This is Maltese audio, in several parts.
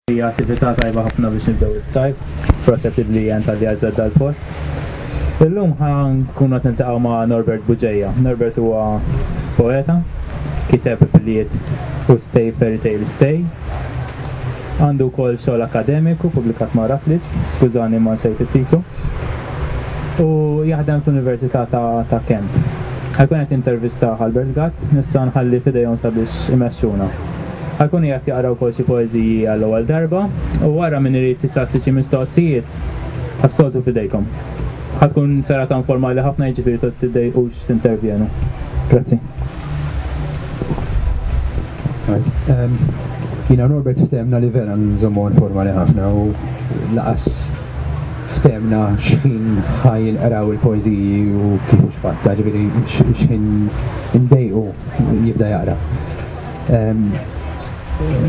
Hija attività tajba ħafna biex nibdew is-sajf. Proset lil Lian talli għażedha l-post. Illum ħa nkunu qed niltaqgħu ma' Norbert Buġeja. Norbert huwa poeta, kiteb Bliet u Stay Fairy Tale Stay. Għandu wkoll xogħol akkademiku pubblikat ma' Routledge, skużani ma nsejt it-titlu. U jaħdem fl-Università ta' Kent. Ħa jkun qed jintervistah Albert Gatt, issa nħalli f'idejhom sabiex imexxuna. Alkuni qed jaqraw ukoll xi poeżiji għall-ewwel darba u wara min irid isaqsi xi mistoqsijiet, bħas-soltu f'idejkom. Ħa tkun serata informali ħafna jiġifieri ta' tiddejqux tintervjenu. Grazzi. Jiena u Norbert ftehemna li vera nżommuha informali ħafna u lanqas ftehemna x'ħin ħa jinqraw il-poeżiji u kif u x'fatt, jiġifieri x'ħin indejqu jibda jaqra.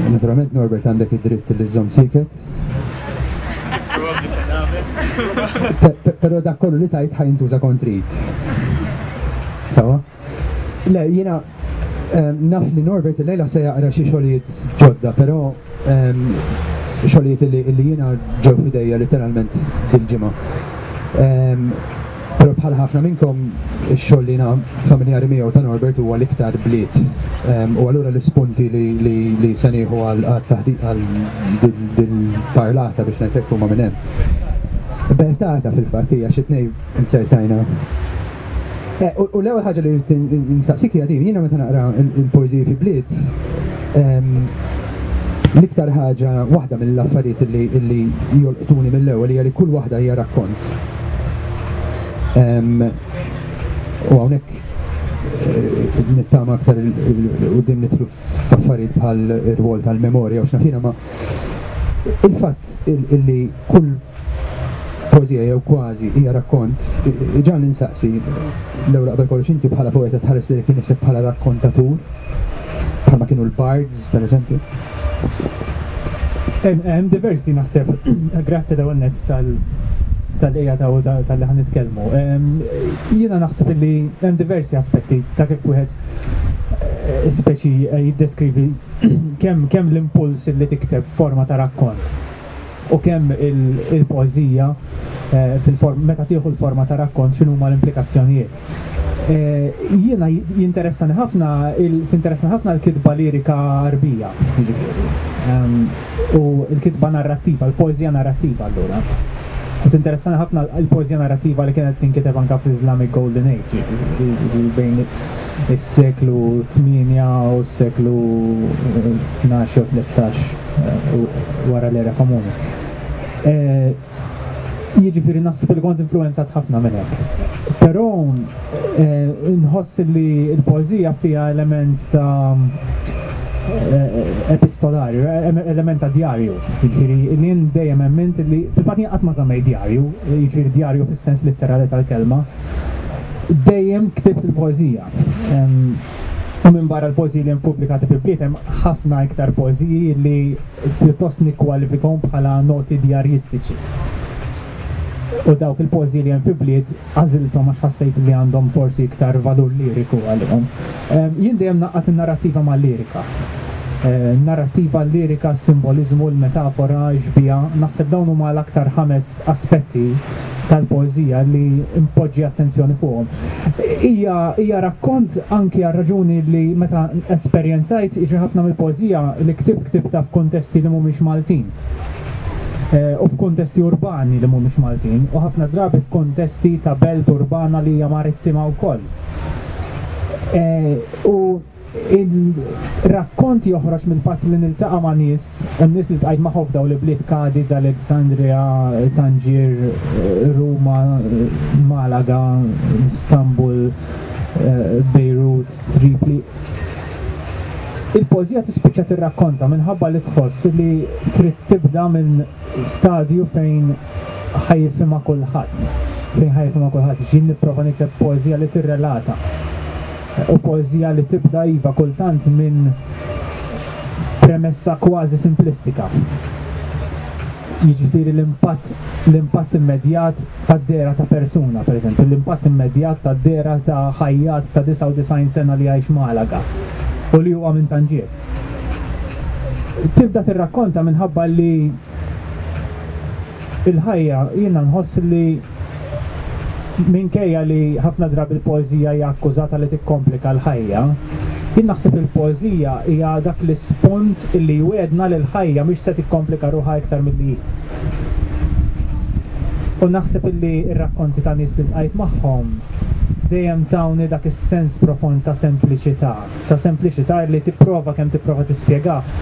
Naturalment Norbert għandek id-dritt li żomm siket. Pero dak kollu li tajt ħajn tuża kontri. Sawa? Le, jina naf li Norbert il-lejla se jaqra xi xogħlijiet ġodda, pero xogħlijiet li jiena ġew fidejja letteralment dil-ġimgħa. Però bħal ħafna minnkom, ix-xogħol li jiena familjari miegħu ta' Norbert huwa l-iktar bliet. U allura l-ispunti li se nieħu għal taħdiq għal dil-parlata biex ngħidlek huma minn hemm. Bertata fil-fatt hija xi tnejn inzertajna Eh, u l-ewwel ħaġa li rrid nistaqsik hija din, jiena meta naqra il-poeżiji fi bliet, ehm, l-iktar ħaġa waħda mill-affarijiet li jolqtuni mill-ewwel hija li kull waħda hija rakkont. Ehm, u hawnhekk eh, nittama aktar u din nitlu f'affarijiet bħal ir-rwol tal-memorja u x'nafina ma il-fatt fatt illi kull poezija jew kważi hija rakkont, ġan insaqsi l-ewwel qabel kollox inti bħala poeta tħares li kien nifsek bħala rakkontatur, bħalma kienu l-bards, per eżempju. Hemm diversi naħseb, grazzi daw net tal tal-eja ta' u tal-li ħan nitkellmu. Jiena naħseb li hemm diversi aspetti ta' kif wieħed eh, speċi eh, jiddeskrivi kemm kemm l-impuls li tikteb forma ta' rakkont u kemm il-poeżija eh, fil-form meta tieħu l-forma ta' rakkont x'inhu huma l-implikazzjonijiet. Eh, jiena jinteressani ħafna tinteressani ħafna l-kitba lirika arbija, jiġifieri. Ehm, u l-kitba narrattiva, l-poeżija narrattiva allura. U tinteressani ħafna l-poeżija narrattiva li kienet tinkiteb anka fl-Islamic Golden Age, jiġifieri, jiġifieri bejn is-seklu tmienja u s-seklu tnax jew tlettax wara l-Era Komuni. Jiġifieri naħseb li kont influwenzat ħafna minn hekk. Però nħoss li l-poeżija fiha element ta' epistolarju, element ta' djarju. Jiġifieri li jien dejjem emmint li, fil-fatt jien qatt ma żammejt djarju, jiġifieri djarju fis-sens litterali tal-kelma, dejjem ktibt il-poeżija. U minn barra l-poeżiji li ppubblikati fi bliet hemm ħafna iktar poeżiji li pjuttost nikkwalifikahom bħala noti djarjistiċi. U dawk il-poeżiji li hemm fi bliet għażilthom għax ħassejt li għandhom forsi iktar valur liriku għalihom. Jien dejjem naqgħad in-narrattiva mal-lirika. Narrattiva, lirika, simboliżmu, l-metafora, x-xbieha, naħseb dawn huma l-aktar ħames aspetti tal-poeżija li npoġġi attenzjoni fuqhom. Hija hija rakkont anki għal raġuni li meta esperjenzajt xi ħafna mill-poeżija li ktibt ktibtha f'kuntesti li mhumiex Maltin. Eh, u f'kuntesti urbani li mhumiex Maltin u ħafna drabi f'kuntesti ta' belt urbana li hija marittima wkoll. Eh, u Ir-rakkont joħroġ mill-fatt li niltaqa' ma' nies, u n-nies li ltqajt magħhom f'dawn l-ibliet Kadiz, Aleksandrija, Tanġir, Ruma, Malaga, Istanbul, Bejrut, Tripli. Il-poeżija tispiċċa tirrakkonta minħabba li tħoss li trid tibda minn stadju fejn ħa jifhimha kulħadd, fejn ħa jifhimha kulħadd, jiġifieri nipprova nikteb poeżija li tirrelata. U poeżija li tibda iva kultant minn premessa kważi simplistika. Jiġifieri l-impatt l-impatt immedjat tad-dehra ta' persuna, pereżempju, l-impatt immedjat tad-dehra ta' ħajjat ta' 99 sena li jgħix Malaga u li huwa minn Tanġier. Tibda tirrakkonta minħabba li l-ħajja jiena nħoss li Minkejja li ħafna drabi l-poeżija hija akkużata li tikkomplika l-ħajja, jien naħseb li l-poeżija hija dak l-ispunt li jwiegħdna li l-ħajja mhix se tikkomplika ruħha iktar milli hi. U naħseb li r-rakkonti ta' nies li ltqajt magħhom dejjem tawni dak is-sens profond ta' sempliċità. ta' sempliċità li tipprova kemm tipprova tispjegah,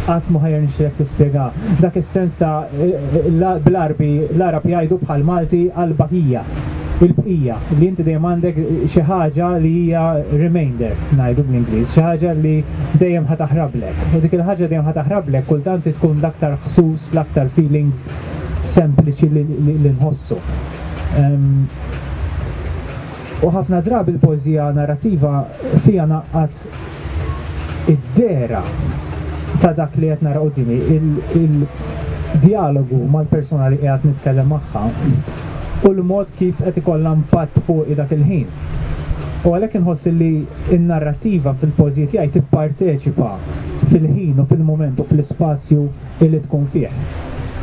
qatt ma ħa jirnexxilek tispjegah. Dak is-sens ta' bl-Għarbi l-Għarab jgħidu bħall-Malti al-baqija, il-bqija, li inti dejjem għandek xi ħaġa li hija remainder, ngħidu bl-Ingliż, xi ħaġa li dejjem ħa taħrablek. U dik il-ħaġa li dejjem ħa taħrablek kultant hi tkun l-aktar ħsus, l-aktar feelings sempliċi li nħossu. U ħafna drabi l-poeżija narrattiva fiha ngħaqqad id-dehra ta' dak li qed nara quddiemi, il-djalogu mal-persuna li qiegħed nitkellem magħha u l-mod kif qed ikollha impatt fuqi dak il-ħin. U għalhekk inħoss li n-narrattiva fil-poeżiji tiegħi tipparteċipa fil-ħin u fil-mument u fl-ispazju illi tkun fih.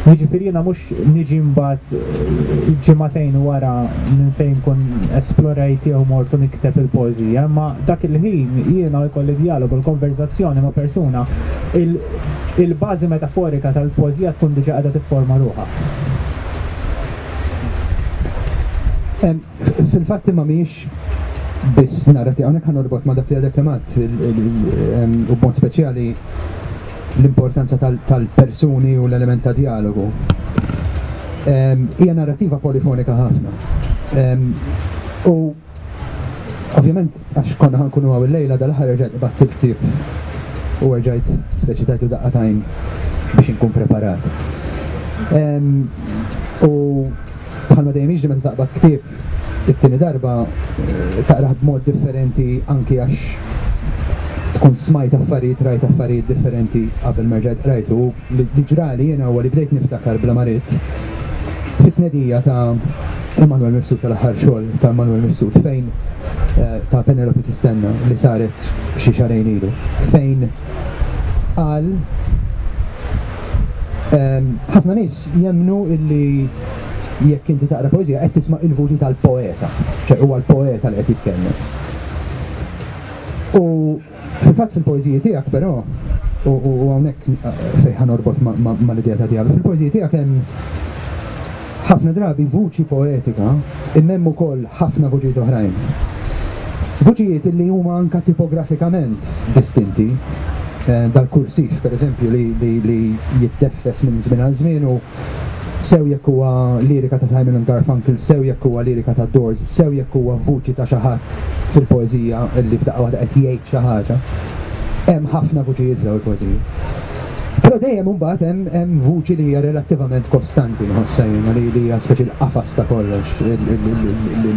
Jiġifieri jiena mhux niġi mbagħad ġimagħtejn wara minn fejn nkun esplorajt jew mort u nikteb il-poeżija, imma dak il-ħin jiena jkolli djalogu, l-konverżazzjoni ma' persuna, il-bażi metaforika tal-poeżija tkun diġà qiegħda tifforma ruħha. Fil-fatt imma mhijiex biss narrativa, hawnhekk ħa norbot ma' dak li għadek kemm għadt u b'mod speċjali l-importanza tal-persuni u l-element ta' dialogu. Hija narrativa polifonika ħafna. U ovvjament għax konna ħankunu għaw il-lejla dal-aħħar rġajt qbatt il-ktieb u rġajt speċi tajtu daqqa tajn biex inkun preparat. U bħalma dejjem jiġri meta taqbad ktieb it-tieni darba taqrah b'mod differenti anki għax tkun smajt affarijiet rajt affarijiet differenti qabel ma rġajt qrajtu li ġrali jiena huwa li bdejt niftakar bla marit fit-tnedija ta' Emanuel Mifsud tal-aħħar xogħol ta' Emanuel Mifsud fejn eh, ta' Penelope Tistenna li saret xi xarejn ilu fejn qal Ehm, ħafna nies Jemmnu illi jekk inti taqra poeżija qed tisma' il-vuċi tal-poeta, ċe huwa l-poeta li qed jitkellem. U fil-fatt fil-poeżiji tiegħek però, u hawnhekk fejn ħa norbot mal-idea ta' Dialu, fil-poeżiji tiegħek hemm ħafna drabi vuċi poetika Imma hemm ukoll ħafna vuċijiet oħrajn. Vuċijiet illi huma anka tipografikament distinti. Dal-kursiv, pereżempju, li jiddeffes minn żmien għal żmien u sew jekk huwa lirika ta' Simon and Garfunkel, sew jekk huwa lirika tad-Doors, sew jekk huwa vuċi ta' xi ħadd fil-poeżija illi f'daqqa waħda qed jgħid xi ħaġa. Hemm ħafna vuċijiet f'dawn il-poeżiji. Però dejjem imbagħad hemm hemm vuċi li hija relattivament kostanti nħossha jiena li hija speċi l-qafas ta' kollox li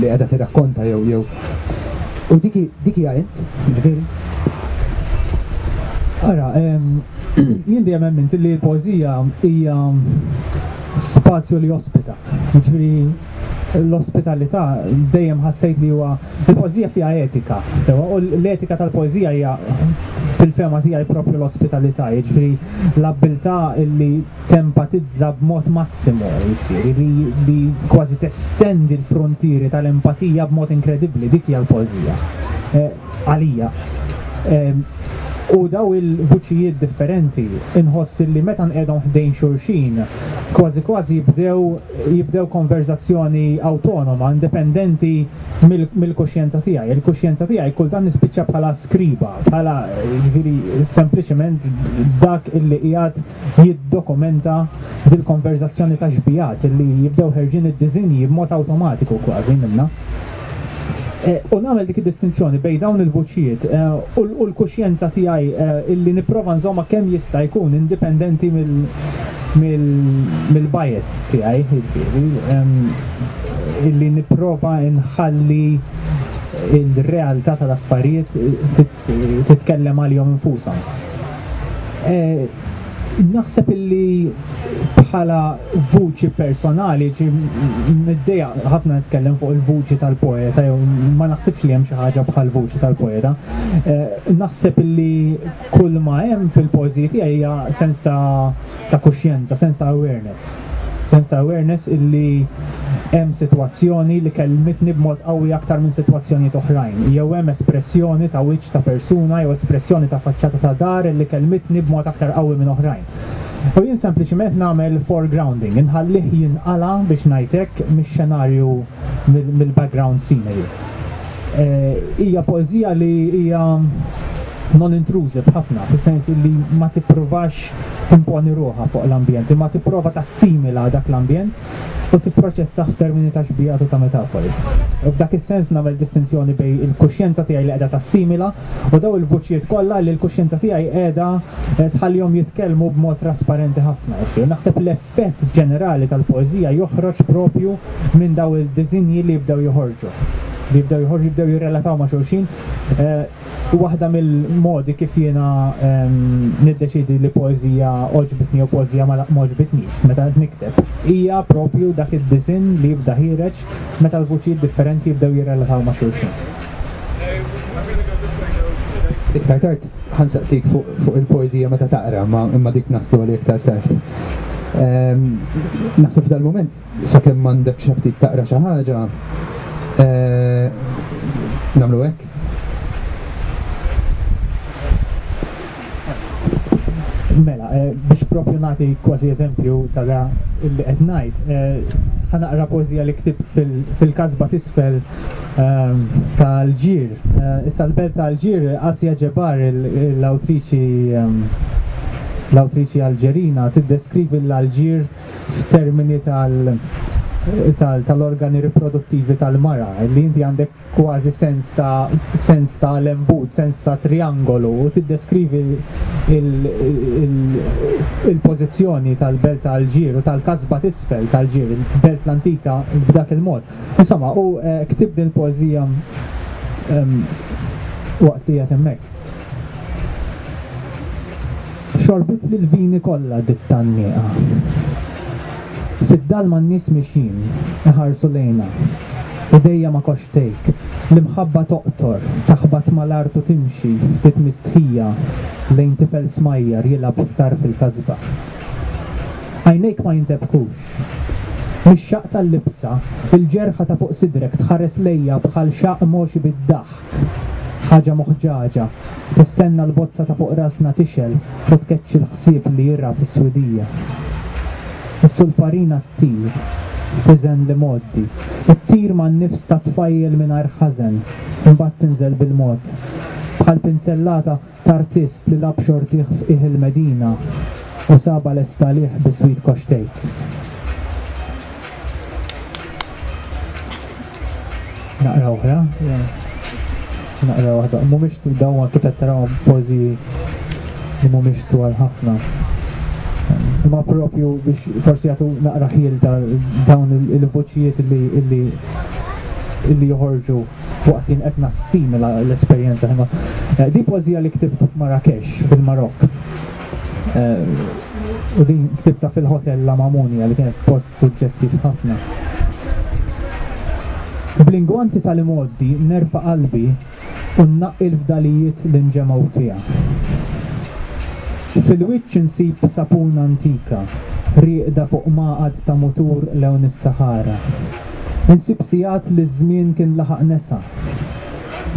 qiegħda tirrakkonta jew jew. U dik dik hija int, ġifieri. Ara, jien dejjem emmint li l-poeżija hija spazju li jospita. Jiġifieri l-ospitalità dejjem ħassejt li huwa il-poeżija fiha etika, sewa, u l-etika tal-poeżija hija fil-fema tiegħi propju l-ospitalità, jiġri l-abbiltà li tempatizza b'mod massimu, jiġri li, li kważi testendi l-frontieri tal-empatija b'mod inkredibbli, dik hija l-poeżija. Eh, għalija. Ehm, u daw il-vuċijiet differenti inħoss li meta nqedhom ħdejn xulxin kważi kważi jibdew jibdew konverżazzjoni awtonoma, indipendenti mill-kuxjenza tiegħi. Il-kuxjenza tiegħi kultant nispiċċa bħala skriba, bħala jiġifieri sempliċement dak illi qiegħed jiddokumenta dil-konverżazzjoni ta' xbigħat illi jibdew ħerġin id-diżinji b'mod awtomatiku kważi minnha. U nagħmel dik id-distinzjoni bejn dawn il-vuċijiet u l-kuxjenza tiegħi illi nipprova nżommha kemm jista' jkun indipendenti mill-bias tiegħi, jiġifieri illi nipprova nħalli l-realtà tal-affarijiet titkellem għalihom infushom. Naħseb illi bħala vuċi personali, niddeja ħafna nitkellem fuq il-vuċi tal-poeta, jew ma naħsibx li hemm xi ħaġa bħal vuċi tal-poeta. Eh, naħseb illi kull ma hemm fil-pożi tiegħi hija sens ta' kuxjenza, sens ta' awareness. Sens ta' awareness illi hemm sitwazzjoni li kellmitni b'mod qawwi aktar minn sitwazzjonijiet oħrajn, jew hemm espressjoni ta' wiċċ ta' persuna jew espressjoni ta' faċċata ta' dar illi kellmitni b'mod aktar qawwi minn oħrajn. U jien sempliċiment nagħmel foregrounding, inħallih jinqala' biex ngħid hekk mix-xenarju mill-background scenery. Hija poeżija li hija non-intrusive ħafna, fis-sens illi ma tippruvax timponi ruħha fuq l-ambjent imma tipprova tassimila dak l-ambjent u tipproċessah f'termini ta' xbiehat u ta' metafori. F'dak is-sens nagħmel distinzjoni bejn il-kuxjenza tiegħi li qiegħda tassimila u dawn il-vuċijiet kollha li l-kuxjenza tiegħi qiegħda tħallihom jitkellmu b'mod trasparenti ħafna. Naħseb l-effett ġenerali tal-poeżija joħroġ proprju minn dawn id-diżinji li jibdew joħorġu, li jibdew joħorġu, jibdew jirrelataw ma' xulxin. U waħda mill-modi kif jiena niddeċiedi li poeżija għoġbitni jew poeżija ma għoġbitnix meta qed nikteb hija proprju dak id-disinn li jibda ħiereġ meta l-vuċijiet differenti jibdew jirrelataw ma' xulxin. Iktar tard ħa nsaqsik fuq il-poeżija meta taqra, imma dik naslu għaliha iktar tard. Naħseb f'dal-mument Sakemm m'għandekx aptit taqra xi ħaġa, nagħmlu hekk. Mela, biex propju nagħti kważi eżempju ta' da illi qed ngħid, ħa naqra poeżija li ktibt fil-kasba t'isfel ta' Alġir. Issa l-belt ta' Alġir, Asja Ġebar, l-awtriċi l-awtriċi Alġerina tiddeskrivi l-Alġir f'termini tal-organi riproduttivi tal-mara, li inti għandek kważi sens ta' sens ta' lembut, sens ta' trijangolu, u tiddeskrivi l-pożizzjoni tal-Belt ta' Alġir u tal-kasba t'isfel t'Alġir, il-Belt l-Antika, b'dak il-mod. Insomma, hu ktieb din il-poeżija waqt li qiegħed hemmhekk. Xorbit li l-vini kollha dik tan-nieqa. Fid-dalma n-nies mixjin, iħarsu lejna. Idejja ma' koxxtejk. L-imħabba toqtor, taħbat mal-art u timxi, ftit mistħija, lejn tifel smajjar jilgħab f'tarf il-kasba. Għajnejk ma jintebkux. Mix-xaqq tal-libsa, il-ġerħa ta' fuq sidrek tħares lejja bħal xaqq mogħxi bid-daħk. Ħaġa muħġaġa, tistenna l-bozza ta' fuq rasna tixgħel u tkeċċi l-ħsieb li jirgħa fis-swidija. Is-sulfarina ttir, tiżen l-imgħoddi, ttir man-nifs tat-tfajjel mingħajr ħażen, imbagħad tinżel bil-mod, bħal pinzellata t'artist li lagħab xortih f'qiegħ il-Medina u sabha lesta għalih bi Sweet Koxtejk. Naqra oħra. Naqra waħda. Mhumiex dawn kif qed tarahom pożi li mhumiex twal ħafna. Ma propju biex forsi jagħtu naqra ħiel ta' dawn il-voċijiet li li joħorġu waqt li qed nassimila l-esperjenza ħin. Eh, di pożija li ktibt f'Marrakesh fil-Marokk. Eh, u din ktibta fil-hotel La Mamunia li kienet post suġġestiv ħafna. Blinguanti tal-imoddi nerfa qalbi u nnaqqi l-fdalijiet li nġemgħu fiha. Fil-wiċċ insib sapuna antika, rieqda fuq maqad ta' mutur lewn is-Sahara. Insib sigħat li ż-żmien kien laħaq nesa,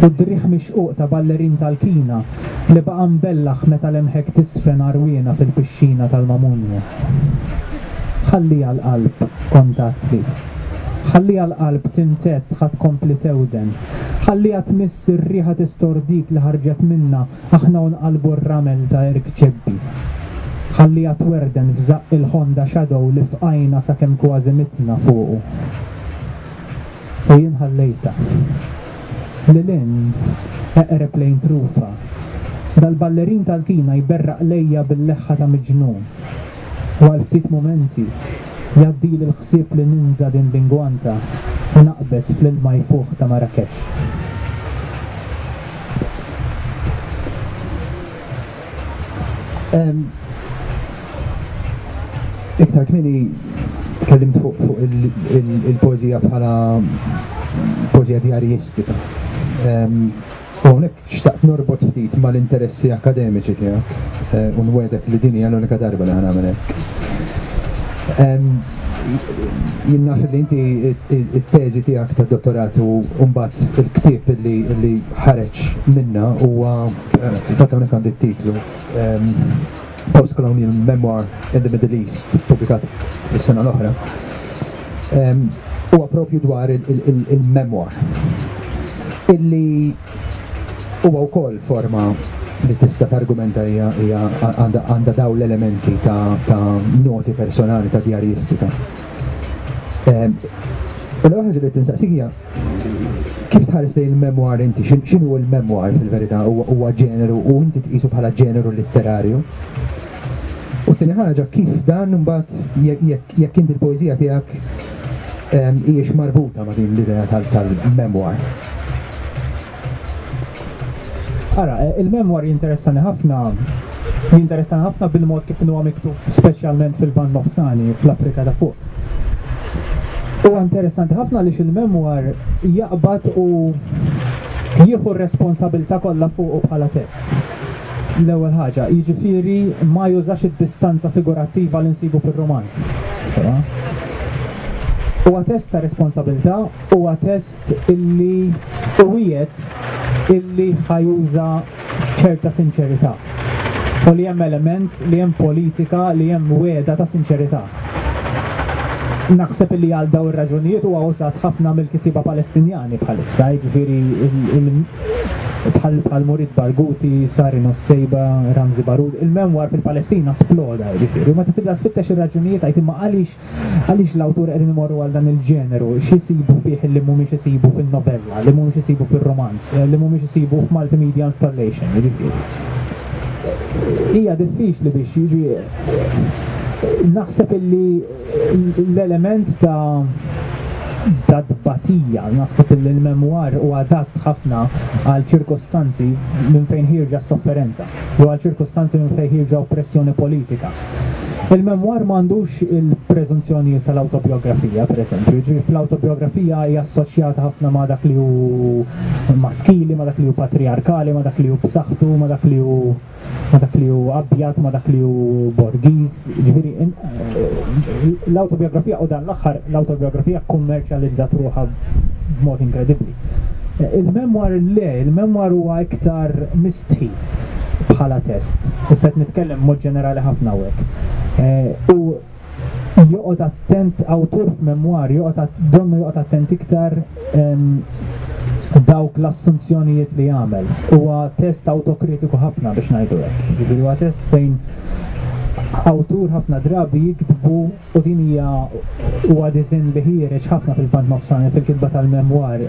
u d-driegħ mixquq ta' ballerin tal-kina li baqa' mbellaħ meta lemħek tiżfen għarwiena fil-pixxina tal-Mamunja. Ħalliha l-qalb, kont għadtli. Ħalliha l-qalb tintedd ħa tkompli tewden. Ħalliha tmiss ir-riħa tistordik li ħarġet minnha Aħna u nqallbu r-ramel ta' erg ċebbi. Ħalliha twerden f'żaqq il-Honda Shadow li fqajna sakemm kważi mitna fuqu. U jien ħallejtha. Lil hinn, eqreb lejn trufa, dal-ballerin tal-kina jberraq lejja bil-leħħa ta' miġnun. u għal ftit mumenti jgħaddili l-ħsieb li ninża' din l-ingwanta u naqbeż fl-ilma jfuħ ta' Marrakesh. Iktar kmieni tkellimt fuq il-poeżija bħala poeżija djarijistika. U hawnhekk xtaqt norbot ftit mal-interessi akkademiċi tiegħek u nwegħdek li din hija l-unika darba li ħa nagħmel hekk. Jien naf li inti t-teżi tiegħek tad-dottorat u mbagħad il-ktieb li ħareġ minnha huwa fil-fatt hawnhekk għandi t-titlu Post-Colonial Memoir in the Middle East, ippubblikat is-sena l-oħra, huwa proprju dwar il-memoir, illi huwa wkoll forma li tista' targumenta hija għandha daw l-elementi ta' noti personali ta' djarjistika. U l-ewwel ħaġa li tinsaqsik hija Kif tħares lejn il-memoir inti? X'inhu l-memoir fil-verità? Huwa ġeneru u inti tqisu bħala ġeneru litterarju? U tieni ħaġa, kif dan imbagħad jekk inti l-poeżija tiegħek hijiex marbuta ma' din l-idea tal-memoir? Ara, eh, il-memwar jinteressani ħafna jinteressani ħafna bil-mod kif huwa miktub speċjalment fil-Ban Nofsani fl-Afrika ta' fuq. Huwa interessanti ħafna li il-memwar jaqbad u jieħu r-responsabilità kollha fuq bħala test. L-ewwel ħaġa, jiġifieri ma jużax id-distanza figurattiva li nsibu fir-romanz. Huwa test ta' responsabilità, huwa test West illi u wiegħed illi ħa juża ċerta sinċerità u li hemm element li hemm politika li hemm wegħda ta' sinċerità. Naħseb illi għal dawn ir-raġunijiet huwa użat ħafna mill-kittieba Palestinjani bħalissa, jiġifieri bħal Murid Barghouti, Sari Nusseibeh, Ramzi Baroud, il-memwar fil-Palestina sploda, jiġifieri, u meta tibda tfittex ir-raġunijiet tgħid imma għaliex Għaliex l-awturi qegħdin imorru għal dan il-ġeneru? X'isibu fih li mhumiex isibu fin-novella, li mhumiex isibu fir-rumanz, li mhumiex isibu f'multimedia installation, jiġifieri? Hija diffiċli biex jiġi naħseb illi l-element ta' ta' tbatija, naħseb illi l-memwar u adatt ħafna għal ċirkostanzi minn fejn ħirġa s-sofferenza, jew għal ċirkostanzi minn fejn ħirġa oppressjoni politika. Il-memwar ma għandux il-preżunzjonijiet tal-awtobjografija, pereżempju, jiġri fl-awtobjografija hija assoċjata ħafna ma' dak li hu maskili, ma' dak li hu patrijarkali, ma' dak li hu b'saħħtu, ma' dak li hu ma' dak li hu abjad, ma' dak li hu borgiż. Ġifieri l-awtobjografija u dan l-aħħar l-awtobjografija kkummerċjalizzat ruħha b'mod inkredibbli. Il-memwar le, il-memwar huwa iktar mistħi bħala test. Issa qed nitkellem mod ġenerali ħafna hawnhekk. Eh, u joqgħod attent awtur f'memwar, joqgħod donnu joqgħod attent iktar dawk l-assunzjonijiet li jagħmel. Huwa test autokritiku ħafna biex ngħidu hekk. Ġifieri huwa test fejn awtur ħafna drabi jiktbu u din hija huwa diżinn li ħiereġ ħafna fil-Lvant Nofsani fil-kitba tal-memwar,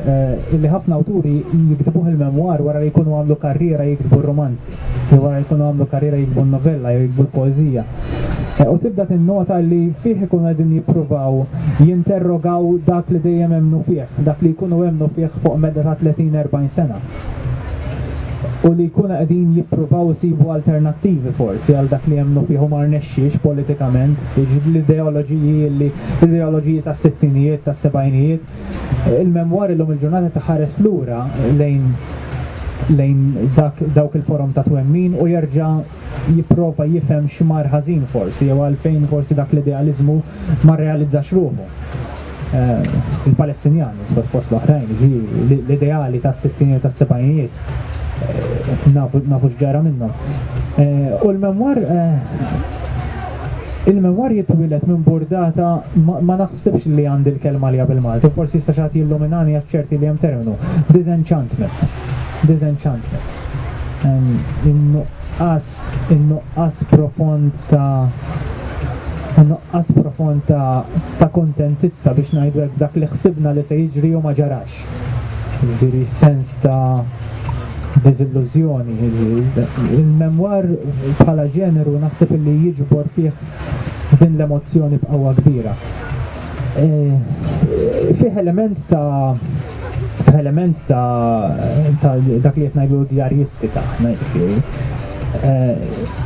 illi ħafna awturi jiktbuh il-memwar wara li jkunu għamlu karriera jiktbu r-rumanzi, jew wara li jkunu għamlu karriera jiktbu n-novella jew jiktbu l-poeżija, u tibda tinnota li fih ikunu qegħdin jippruvaw jinterrogaw dak li dejjem emmnu fih, dak li jkunu emmnu fih fuq medda ta' tletin, erbgħin sena. u li jkunu qegħdin jippruvaw isibu alternattivi forsi għal dak li jemmnu fih u ma rnexxiex politikament, jiġifieri l-ideoloġiji li l-ideoloġiji tas-sittinijiet, tas-sebgħinijiet. Il-memwar illum il-ġurnata taħares lura lejn lejn dak dawk il-forom ta' twemmin u jerġa' jipprova jifhem x'mar ħażin forsi jew għalfejn forsi dak l-idealiżmu ma rrealizzax ruħu. Eh, Il-Palestinjani, fost l-oħrajn, jiġifieri l-ideali tas-sittinijiet tas-sebgħinijiet eh, nafu x'ġara minnhom. Eh, u l-memwar Il-memwar jitwilet minn burdata ma naħsibx li għandi l-kelma li għabil Malti, forsi jista' xagħti illuminani għax ċerti li hemm terminu. Disenchantment. disenchantment. In-nuqqas in-nuqqas profond ta' in-nuqqas profond ta' ta' kuntentizza biex ngħidu hekk dak li ħsibna li se jiġri u ma ġarax. Jiġifieri sens ta' diżillużjoni. Il-memwar bħala ġeneru naħseb li jiġbor fih din l-emozzjoni b'qawwa kbira. eh, fih element ta' element ta' dak li qed ngħidu djarjistika, ngħidfieri. Eh,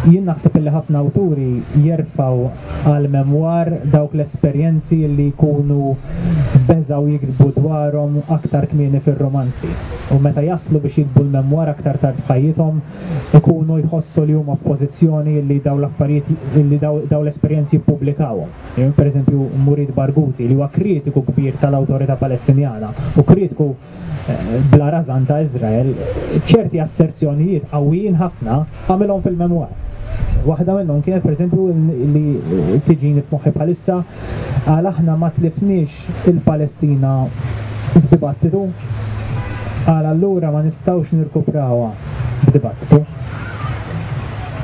jien naħseb li ħafna awturi jerfaw għal memwar dawk l-esperjenzi li jkunu beżaw jiktbu dwarhom aktar kmieni fir-romanzi. U meta jaslu biex jikbu l-memwar aktar tard f'ħajjithom ikunu jħossu li huma f'pożizzjoni li daw l-affarijiet li daw l-esperjenzi jippubblikawhom. Per eżempju, Mourid Barghouti, li huwa kritiku kbir tal-Awtorità Palestinjana u kritiku bla rażan ta' Iżrael, ċerti asserzjonijiet qawwijin ħafna għamilhom fil-memwar. Waħda minnhom kienet, per eżempju, li tiġini f'moħħi bħalissa, qal aħna ma tlifniex il-Palestina f'dibattitu? Għal allura ma nistgħux nirkuprawha b'dibattitu?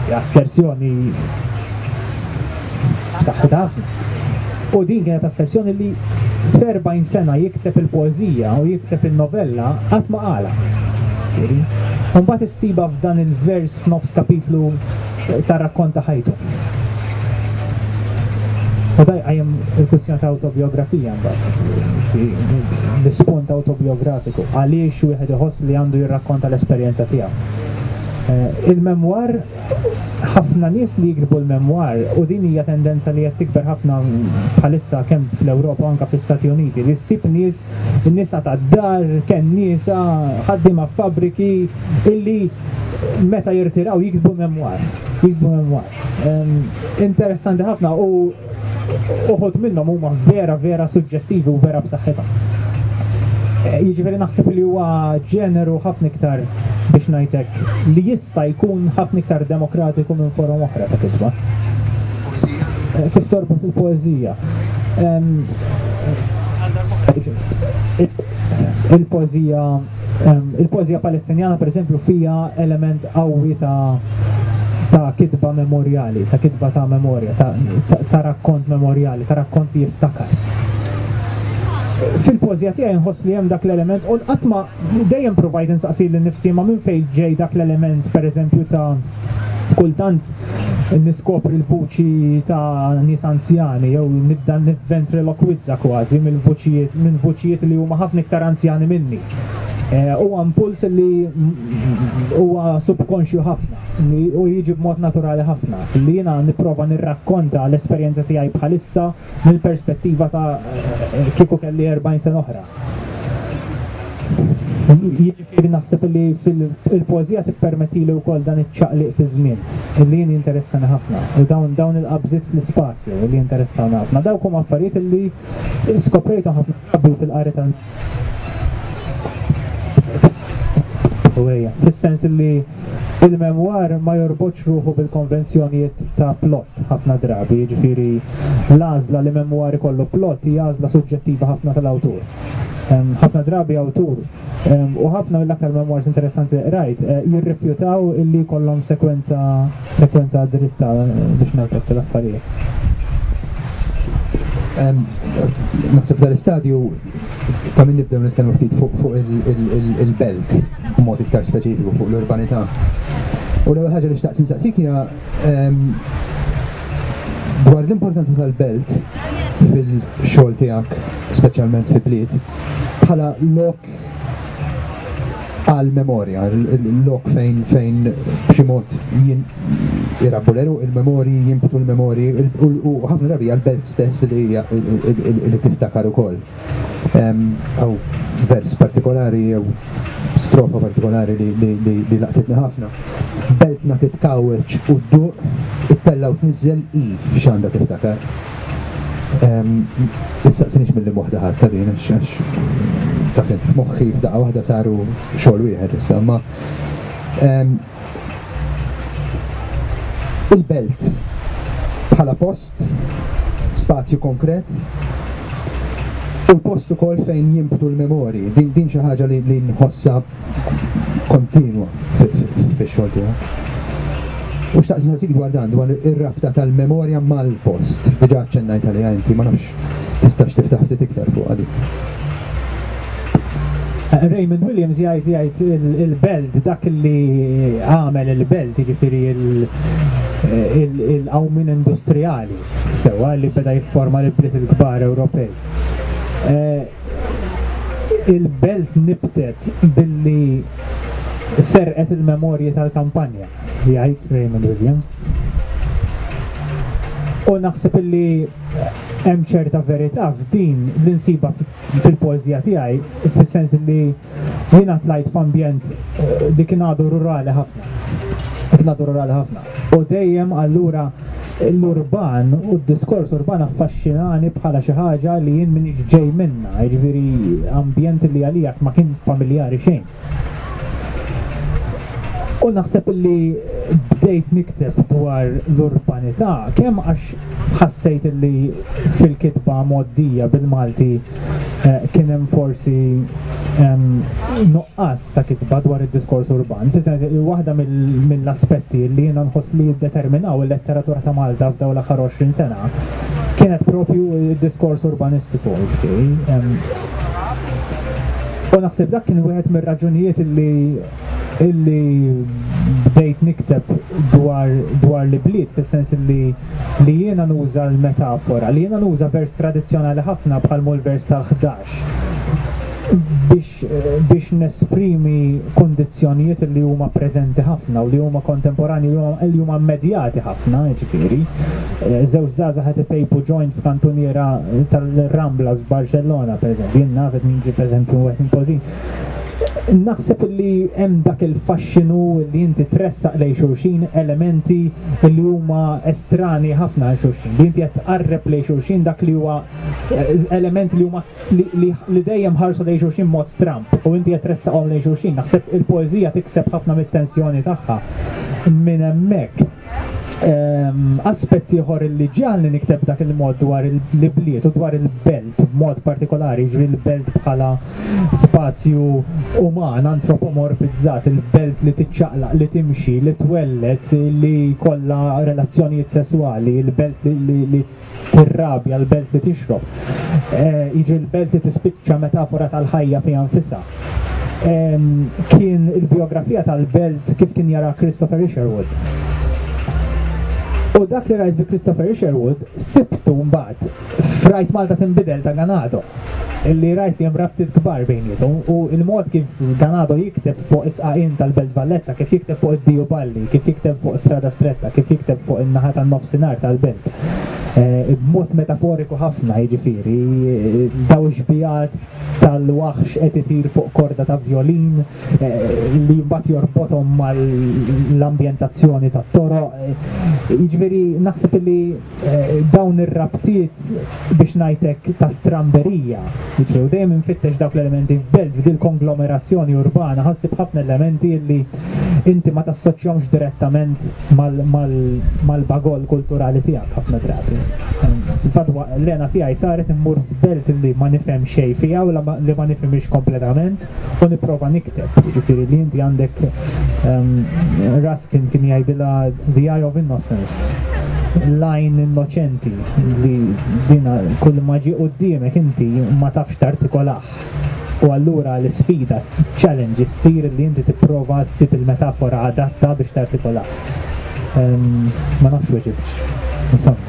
Hija asserzjoni b'saħħitha ħafna. U din kienet asserzjoni li f'40 sena jikteb il-poeżija u jikteb il-novella qatt ma qalha. Imbagħad issibha f'dan il-vers f'nofs kapitlu tar-rakkonta ħajtu. U da jqajjem il-kwistjoni ta' autobiografija mbagħad, l-ispont autobiografiku, għaliex wieħed iħoss li għandu jirrakkonta l-esperjenza tiegħu. Eh, il-memwar, ħafna nies li jiktbu l-memwar, u din hija tendenza li qed tikber ħafna bħalissa kemm fl-Ewropa anke fl-Istati Uniti, li ssib nies nisa tad-dar, kenniesa, ħaddiema f'fabbriki illi meta jirtiraw jiktbu memwar. Jiktbu memwar. Interessanti ħafna u uħut minnhom huma vera vera suġġestivi u vera b'saħħithom. Eh, jiġifieri naħseb li huwa ġeneru ħafna iktar biex ngħidlek li jista' jkun ħafna iktar demokratiku minn forum oħra ta' kitba. Kif torbot il-poezija? Il-poezija il-poezija palestinjana pereżempju fija element qawwi ta' ta' kitba memorjali, ta' kitba ta' memorja, ta', ta, ta rakkont memorjali, ta' rakkont li jiftakar. Fil-poezija tiegħi nħoss li hemm dak l-element u qatt ma dejjem provajt insaqsi lil nifsi ma minn fejn ġej dak l-element pereżempju ta' Kultant niskopri l-vuċi ta' nies anzjani jew nibda nivventrilokwizza kważi mill-vuċijiet minn vuċijiet li huma ħafna iktar anzjani minni. Eh, huwa impuls li huwa subkonxju ħafna u jiġi b'mod naturali ħafna li jiena nipprova nirrakkonta l-esperjenza tiegħi bħalissa mill-perspettiva ta' eh, kieku kelli 40 sena oħra. Jien naħseb li il-poeżija tippermettili wkoll dan iċ-ċaqliq fiż-żmien, li jien jinteressani ħafna, u dawn dawn il-qabżiet fl-ispazju li jinteressawni ħafna. Dawk huma affarijiet li skoprejthom ħafna drabi fil-qari tal fis-sens li il-memwar ma jorbotx ruħu bil-konvenzjonijiet ta' plot ħafna drabi, jiġifieri l-għażla li memwar ikollu plot hija għażla suġġettiva ħafna tal-awtur. Ħafna drabi awtur U ħafna mill-aktar memoirs interessanti li qrajt eh, jirrifjutaw illi kollhom sekwenza sekwenza dritta biex ngħidlek l-affarijiet. Naħseb dal-istadju ta' min nibdew nitkellmu ftit fuq il-belt, mod iktar speċifiku fuq l-urbanità. U l-ewwel ħaġa li xtaqt insaqsik hija dwar l-importanza tal-belt fil-xogħol tiegħek, speċjalment fi bliet. bħala lok għal memorja, lok fejn fejn b'xi mod jirabbu l-eru il-memori, jimbtu l-memori, u ħafna drabi għal belt stess li tiftakar ukoll. Għaw vers partikolari, jew strofa partikolari li laqtitni ħafna. Beltna titkawċ u d-duq, it-tella u t-nizzel i xanda tiftakar. Issaqsinix milli moħda ħadd ta' din għax għax taf int f'moħħi f'daqqa waħda saru xogħol wieħed issa ma il-belt bħala post, spazju konkret, u l-post ukoll fejn jimbtu l-memori. Din din xi ħaġa li nħossha kontinwa fix-xogħol tiegħek. U xtaqt nagħtik dwar dan, dwar ir-rabta tal-memorja mal-post. Diġà ċċennajt għaliha inti, ma nafx tistax tiftaħ ftit iktar fuq għadi. Eh, Raymond Williams jgħid jgħid il-belt dak li għamel il-belt jiġifieri eh, il-qawmin industrijali sewwa li beda jifforma l-bliet il-kbar Ewropej. Eh, Il-belt nibtet billi serqet il-memorji tal-kampanja, jgħid Raymond Williams. U naħseb illi hemm ċerta verità f'din li nsiba fil-pożja tiegħi fis-sens li Jiena tlajt f'ambjent dik kien għadu rurali ħafna. Dik kien għadu rurali ħafna. U dejjem allura l-urban u d-diskors urban affaxxinani bħala xi ħaġa li jien minix ġej minna, jiġifieri ambjent li għalijak ma kien familjari xejn. U naħseb li bdejt nikteb dwar l-urbanità kemm għax ħassejt li fil-kitba moddija bil-Malti Eh, kien hemm forsi nuqqas ta' kitba dwar id-diskors urban, fis-sens li waħda mill-aspetti li jiena nħoss li jiddeterminaw il-letteratura ta' Malta f'dawn l-aħħar 20 sena kienet propju id-diskors urbanistiku, U naħseb dak kien wieħed mir-raġunijiet li illi bdejt nikteb dwar, dwar li bliet, fis-sens li li jiena nuża l-metafora, li jiena nuża vers tradizzjonali ħafna bħal mul vers tal-11 biex, biex nesprimi kondizjonijiet li huma preżenti ħafna u li huma kontemporani u li huma immedjati ħafna, ġifiri. Zewġ eh, zaza ħati pejpu joint f'kantuniera tal-Rambla f'Barcellona, per eżempju, jien nafet minn ġi per eżempju għet naħseb li hemm dak il-faxxinu li inti tressaq lejn xulxin elementi li huma estrani ħafna għal xulxin. Li inti qed tqarreb lejn xulxin dak li huwa eh, elementi li huma li dejjem ħarsu lejn xulxin mod stramp u inti qed tressaqhom lejn xulxin. Naħseb il-poeżija tikseb ħafna mit-tensjoni tagħha minn hemmhekk. Aspett ieħor li ġiegħelni nikteb dak il-mod dwar l-ibliet u dwar il-belt b'mod partikolari, ġri l-belt bħala spazju uman, antropomorfizzat, il-belt li tiċċaqlaq, li timxi, li twellet, li kollha relazzjonijiet sesswali, il-belt li Tirrabja, l-belt li tixrob. Jiġri l-belt li tispiċċa metafora tal-ħajja fiha nfisha. Kien il-biografija tal-belt kif kien jara Christopher Isherwood. U dak li rajt bi Christopher Isherwood sibtu mbagħad f'Rajt Malta Tinbidel ta' Ganado. illi rajt li hemm rabtiet kbar bejniethom u l-mod kif Ganado jikteb fuq is-sqaqien tal-Belt Valletta, kif jikteb fuq id-Diu Balli, kif jikteb fuq Strada Stretta, kif jikteb fuq in-naħa tan-nofsinhar tal-belt, b'mod metaforiku ħafna, jiġifieri, dawn ix-xbigħat tal-waħx qed itir fuq korda ta' vjolin li mbagħad jorbothom mal-ambjentazzjoni tat-toroq, jiġifieri, naħseb illi, Eh, dawn ir-rabtiet biex najtek ta' stramberija. Ġew dejjem infittex dawk l-elementi f'belt f'dil konglomerazzjoni urbana ħassib ħafna elementi li inti ma tassoċjomx direttament mal-bagol kulturali tiegħek ħafna drabi. Fadwa l-lena tiegħi saret immur f'belt li ma nifhem xejn fiha u li ma nifhimx kompletament. u niprofa nikteb, ġifiri li inti għandek um, Raskin kien jgħidila The Eye of Innocence, lajn innoċenti li dina kull maġi u d-diemek inti ma tafx tartikolax. U allura l-sfida, challenge, issir li inti tipprova ssib il-metafora adatta biex tartikolax. Um, ma nafx weġibx. Insomma.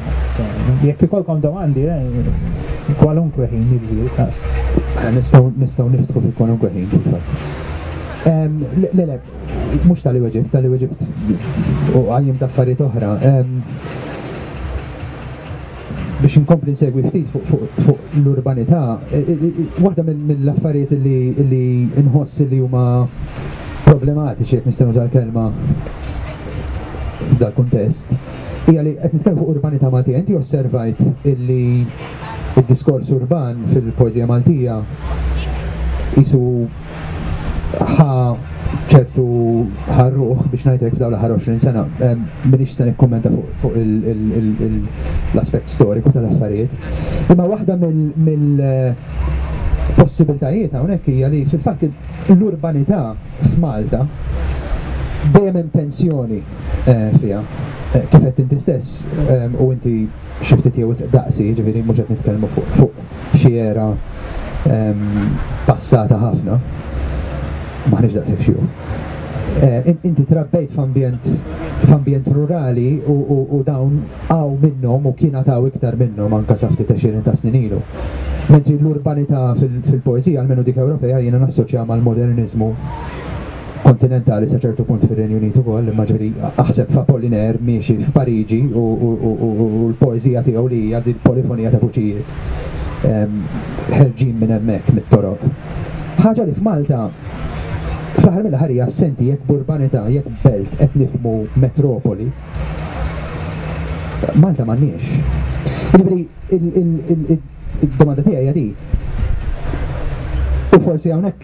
Jekk ikolkom domandi, eh, kwalunkwe ħin jiġri, saqs. Eh, nistgħu nistgħu niftħu fi kwalunkwe ħin fil-fatt. Le le, mhux tal-li weġibt, tal-li weġibt u għajjem ta' affarijiet oħra. Biex inkompli nsegwi ftit fuq l-urbanità, eh, eh, waħda mill-affarijiet li nħoss li huma problematiċi jekk nistgħu tal-kelma f'dal kuntest hija li qed nitkellmu fuq urbanità Maltija. Inti osservajt illi id-diskors urban fil-poeżija Maltija isu ħa ċertu ħarruħ biex ngħidlek f'dawn l-aħħar 20 sena. Minix se nikkummenta fuq l-aspett storiku tal-affarijiet. Imma waħda mill possibiltajiet hawnhekk hija li fil-fatt l-urbanità f'Malta dejjem hemm tensjoni fiha. Kif għedt inti stess, u inti xi ftit jew wisq daqsi, jiġifieri mhux qed nitkellmu fuq xi era passata ħafna, m'aħniex daqshekk xjuħ, inti trabbejt f'ambjent f'ambjent rurali u dawn hawn minnhom u kien għad hawn iktar minnhom anke sa ftit għexieren ta' snin ilu. Mentri l-urbanità fil-poeżija, almenu dik Ewropea, jiena nassoċjaha mal-moderniżmu. kontinentali sa ċertu punt fir-Renju Unit ukoll, imma ġifieri aħseb f'Apollinaire miexi f'Pariġi u, u, u, u, u, u l-poeżija tiegħu li hija din polifonija ta' vuċijiet em, ħerġin minn hemmhekk mit-toroq. Ħaġa li f'Malta fl-aħħar mill-aħħar hija assenti jekk b'urbanità, jekk belt qed nifhmu metropoli. Malta m'għandniex. Jiġifieri il- il- il- il- Id-domanda tiegħi hija di. U forsi hawnhekk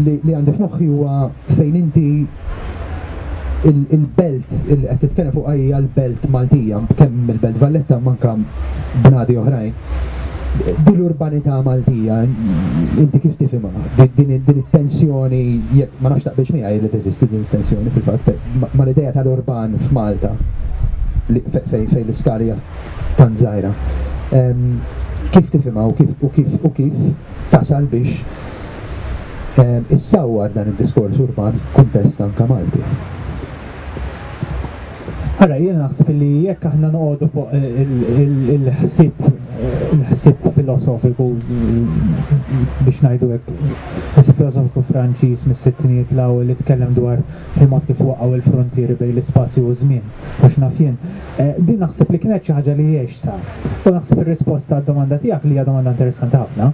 li għandi f'moħħi huwa fejn inti il-belt il qed titkellem fuq hija l-belt Maltija, kemm il-belt Valletta manka bnadi oħrajn. Din l-urbanità Maltija, inti kif tifhimha? Din it-tensjoni, ma nafx taqbilx miegħi li teżisti din it-tensjoni fil-fatt, ma l-idea tal-urban f'Malta fejn l-iskalija tant żgħira. Kif tifhimha u kif u kif u kif tasal biex issawwar dan id-diskors urban f'kuntest anke Malti? Ara, jien naħseb li jekk aħna noqogħdu fuq il-ħsieb il-ħsieb filosofiku biex ngħidu hekk ħsieb filosofiku Franċiż mis-sittinijiet l-ewwel li tkellem dwar il-mod kif waqgħu l-frontieri bejn l-ispazju u żmien biex naf jien. Din naħseb li kienet xi ħaġa li għextha u naħseb ir-risposta għad-domanda tiegħek li hija domanda interessanti ħafna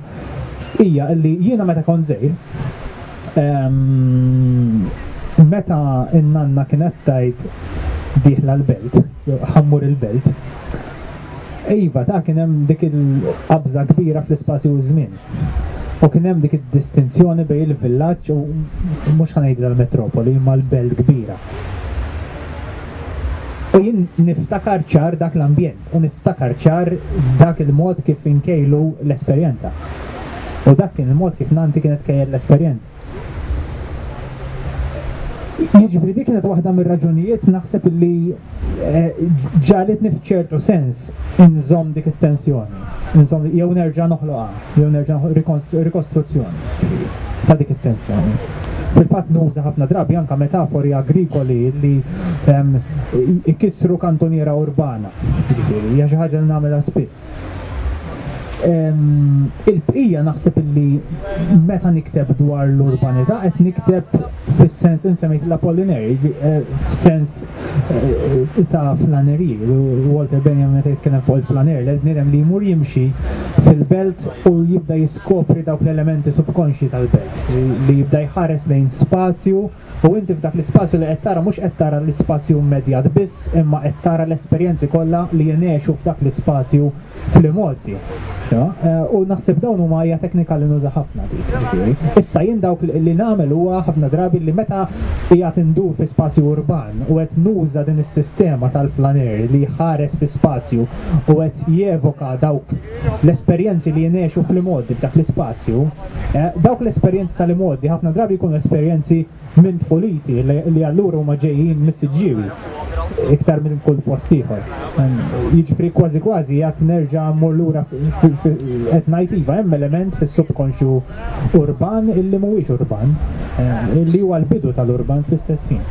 hija li jiena meta kont żgħir meta n-nanna kienet tgħid dieħla l-belt, ħammur il-belt, Iva, ta' kien hemm dik il-qabża kbira fl-ispazju u żmien. U kien hemm dik id-distinzjoni bejn il-villaġġ u mhux ħanejdra l-metropoli imma l-belt kbira. U jien niftakar ċar dak l-ambjent u niftakar ċar dak il-mod kif inkejlu l-esperjenza. U dak kien il-mod kif Nanti kienet kejjel l-esperjenza. Jiġifieri dik kienet waħda mir-raġunijiet naħseb li eh, ġalitni f'ċertu sens inżomm dik it-tensjoni. Inżomm jew nerġa' noħloqha, jew nerġa' rikostruzzjoni ta' dik it-tensjoni. Fil-fatt nuża ħafna drabi anka metafori agrikoli li ehm, ikissru kantoniera urbana. Jiġifieri, hija xi ħaġa li nagħmilha spiss. Il-bqija naħseb illi meta nikteb dwar l-urbanità qed nikteb fis-sens insemmejt l-Apollinari, eh, f'sens eh, ta' flaneri, Walter Benjamin meta jitkellem fuq il-flaner, l nirem li jmur jimxi fil-belt u jibda jiskopri dawk l-elementi subkonxji tal-belt, li jibda jħares lejn spazju u inti f'dak l-ispazju li qed tara mhux qed tara l-ispazju immedjat biss imma qed tara l-esperjenzi kollha li jingħexu f'dak l-ispazju fl-imgħoddi. Eh, u naħseb dawn huma hija teknika li nuża ħafna dik. Issa jien dawk li nagħmel huwa ħafna drabi li meta hija tindur fi spazju urban u qed nuża din is-sistema tal-flaner li ħares fi spazju u qed jevoka dawk l-esperjenzi li jingħexu fl-imgħoddi, f'dak l-ispazju, dawk l-esperjenzi tal-imgħoddi ħafna drabi jkunu esperjenzi minn tfuliti li allura huma ġejjin mis-siġġiewi iktar minn kull post ieħor. Jiġifieri kważi kważi għad nerġa' mmur lura qed ngħid iva hemm element fis-subkonxju urban illi mhuwiex urban, illi huwa l-bidu tal-urban fl-istess ħin.